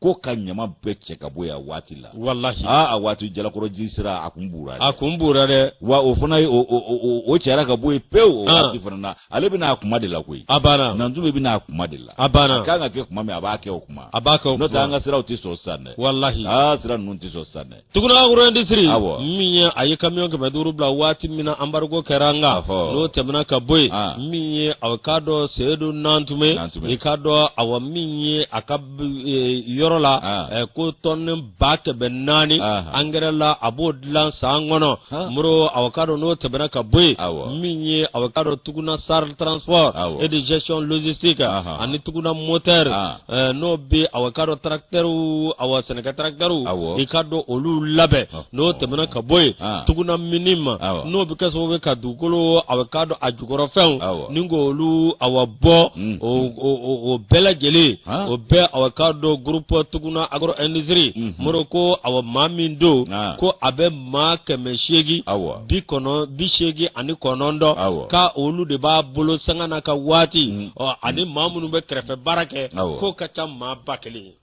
ko ka ɲama bɛɛ cɛ ka bɔ yan waati la walahi aa a waati jalakɔrɔji sira a kun buura a kun buura dɛ wa o fana ye o cɛra ka bɔ yen pewu o waati fana na ale bɛ na a kuma de la koyi a banna nantume bɛ na a kuma de la a banna a kan ka kɛ kuma min a b'a kɛ o kuma a b'a kɛ o kuma n'o tɛ an ka siraw tɛ sɔn sisan dɛ walahi aa sira ninnu tɛ sɔn sisan dɛ Toguna agro industrie min ye a ye kamiyɔn kɛmɛ duuru bila waati min na anbarigo kɛra an kan n'o tɛmɛna ka bɔ yen min ye a k'a dɔn seyidu nantume i k'a dɔn awa min ye a ka e, yɔrɔ la ko tɔni ba kɛmɛ naani angɛrɛ la a b'o dilan san kɔnɔ moro aw k'a dɔn n'o tɛmɛna ka bɔ yen min ye aw k'a dɔn toguna SARL transport et de gestion logistique ani toguna motɛ n'o bɛ aw k'a dɔn tarakitɛriw a sɛnɛkɛ tarakitɛriw i k'a dɔn olu labɛn n'o tɛmɛna ka bɔ yen tuguna mining n'o bɛ kɛ sababu ka dugukolo aw k'a dɔn a jukɔrɔfɛnw ni ko olu a bɔ mm. o bɛɛ lajɛlen o bɛɛ aw k'a dɔn groupe tuguna agro industrie mm-hmm. moro ko a maa min don ko a bɛ maa kɛmɛ seegin bi kɔnɔn bi seegin ani kɔnɔntɔn ko olu de b'a bolo sanga na ka waati mm. ani maa minnu bɛ kɛrɛfɛ baara kɛ k'o ka ca maa ba kelen ye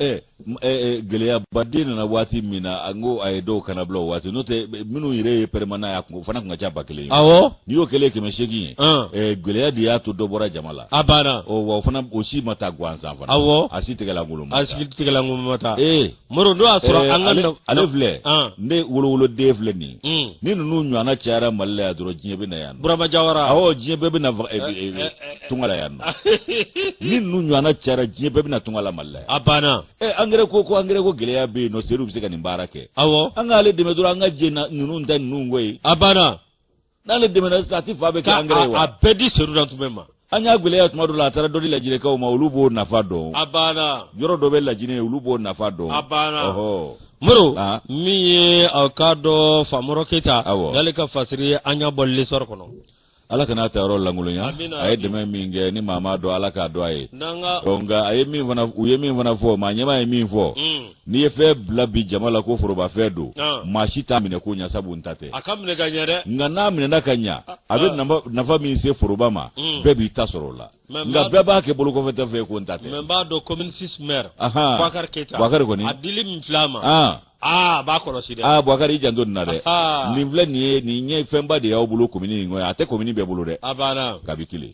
Eh, eh, eh, gɛlɛyaba de nana waati min na n ko a ye dɔw kannabila o waati n'o tɛ minnu yɛrɛ ye pɛrɛmana y'a kun o fana tun ka ca ba kelen ye awɔ n'i y'o kɛlen kɛmɛ seegin ye ah. gɛlɛya de y'a to dɔ bɔra jama la a banna wa o fana o si ma taa gansan fana awɔ a si tigɛlankolon ma taa a si tigɛlankolon ma taa ee moro n'o y'a sɔrɔ eh, an ka ale filɛ ah. ne wolowoloden filɛ nin hmm. ni ninnu ɲɔgɔnna cayara mali la yan dɔrɔn diɲɛ bɛ na yan burama jawara awɔ diɲɛ bɛɛ bɛ na eh, eh, tunga la yan nɔ ni ninnu ɲɔgɔnna cayara diɲɛ bɛɛ bɛ na tunga la mali la yan a banna ɛ angɛrɛ ko ko angɛrɛ ko gɛlɛya bɛ yen nɔ sedu bɛ se ka nin baara kɛ awɔ an k'ale dɛmɛ dɔrɔn an ka jɛ ninnu ta ninnu ko ye a banna n'ale dɛmɛna sisan a ti fan bɛɛ kɛ angɛrɛ ye wa a bɛɛ di sedu nantumɛ ma an y'a gɛlɛya tuma dɔ la a taara dɔ di lajinɛkaw ma olu b'o nafa dɔn a banna yɔrɔ dɔ bɛ lajinɛ yen olu b'o nafa dɔn a banna moro min ye aw k'a dɔn famɔrɔ keyita y'ale ka fasiri ye an y'a bɔ lesɔri kɔnɔ ala kana a ta yɔrɔ lankolonya a ye dɛmɛ min kɛ ni maa m'a dɔn ala k'a dɔn a ye nka a ye min fana u ye min fana fɔ maa ɲɛmaa ye min fɔ mm. n'i ye fɛn bila bi jama la ko forobafɛn don ah. maa si t'a minɛ ko ɲa sabu n ta tɛ a ka minɛ ka ɲa dɛ nka n'a minɛna ka ɲa ah, a bɛ ah. nafa min se foroba ma hmm. bɛɛ b'i ta sɔrɔ o la nka bɛɛ b'a kɛ bolokɔfɛtɔ fɛ ko n ta tɛ mɛ n b'a dɔn commune six maire Boubacar Keita Boubacar kɔni a dili min filɛ a ma aa b'a kɔlɔsi dɛ aa Boubacar i janto nin na dɛ nin filɛ nin ye nin ye fɛnba de y'aw bolo commune in kɔnɔ a tɛ commune bɛɛ bolo dɛ a banna kabi kelen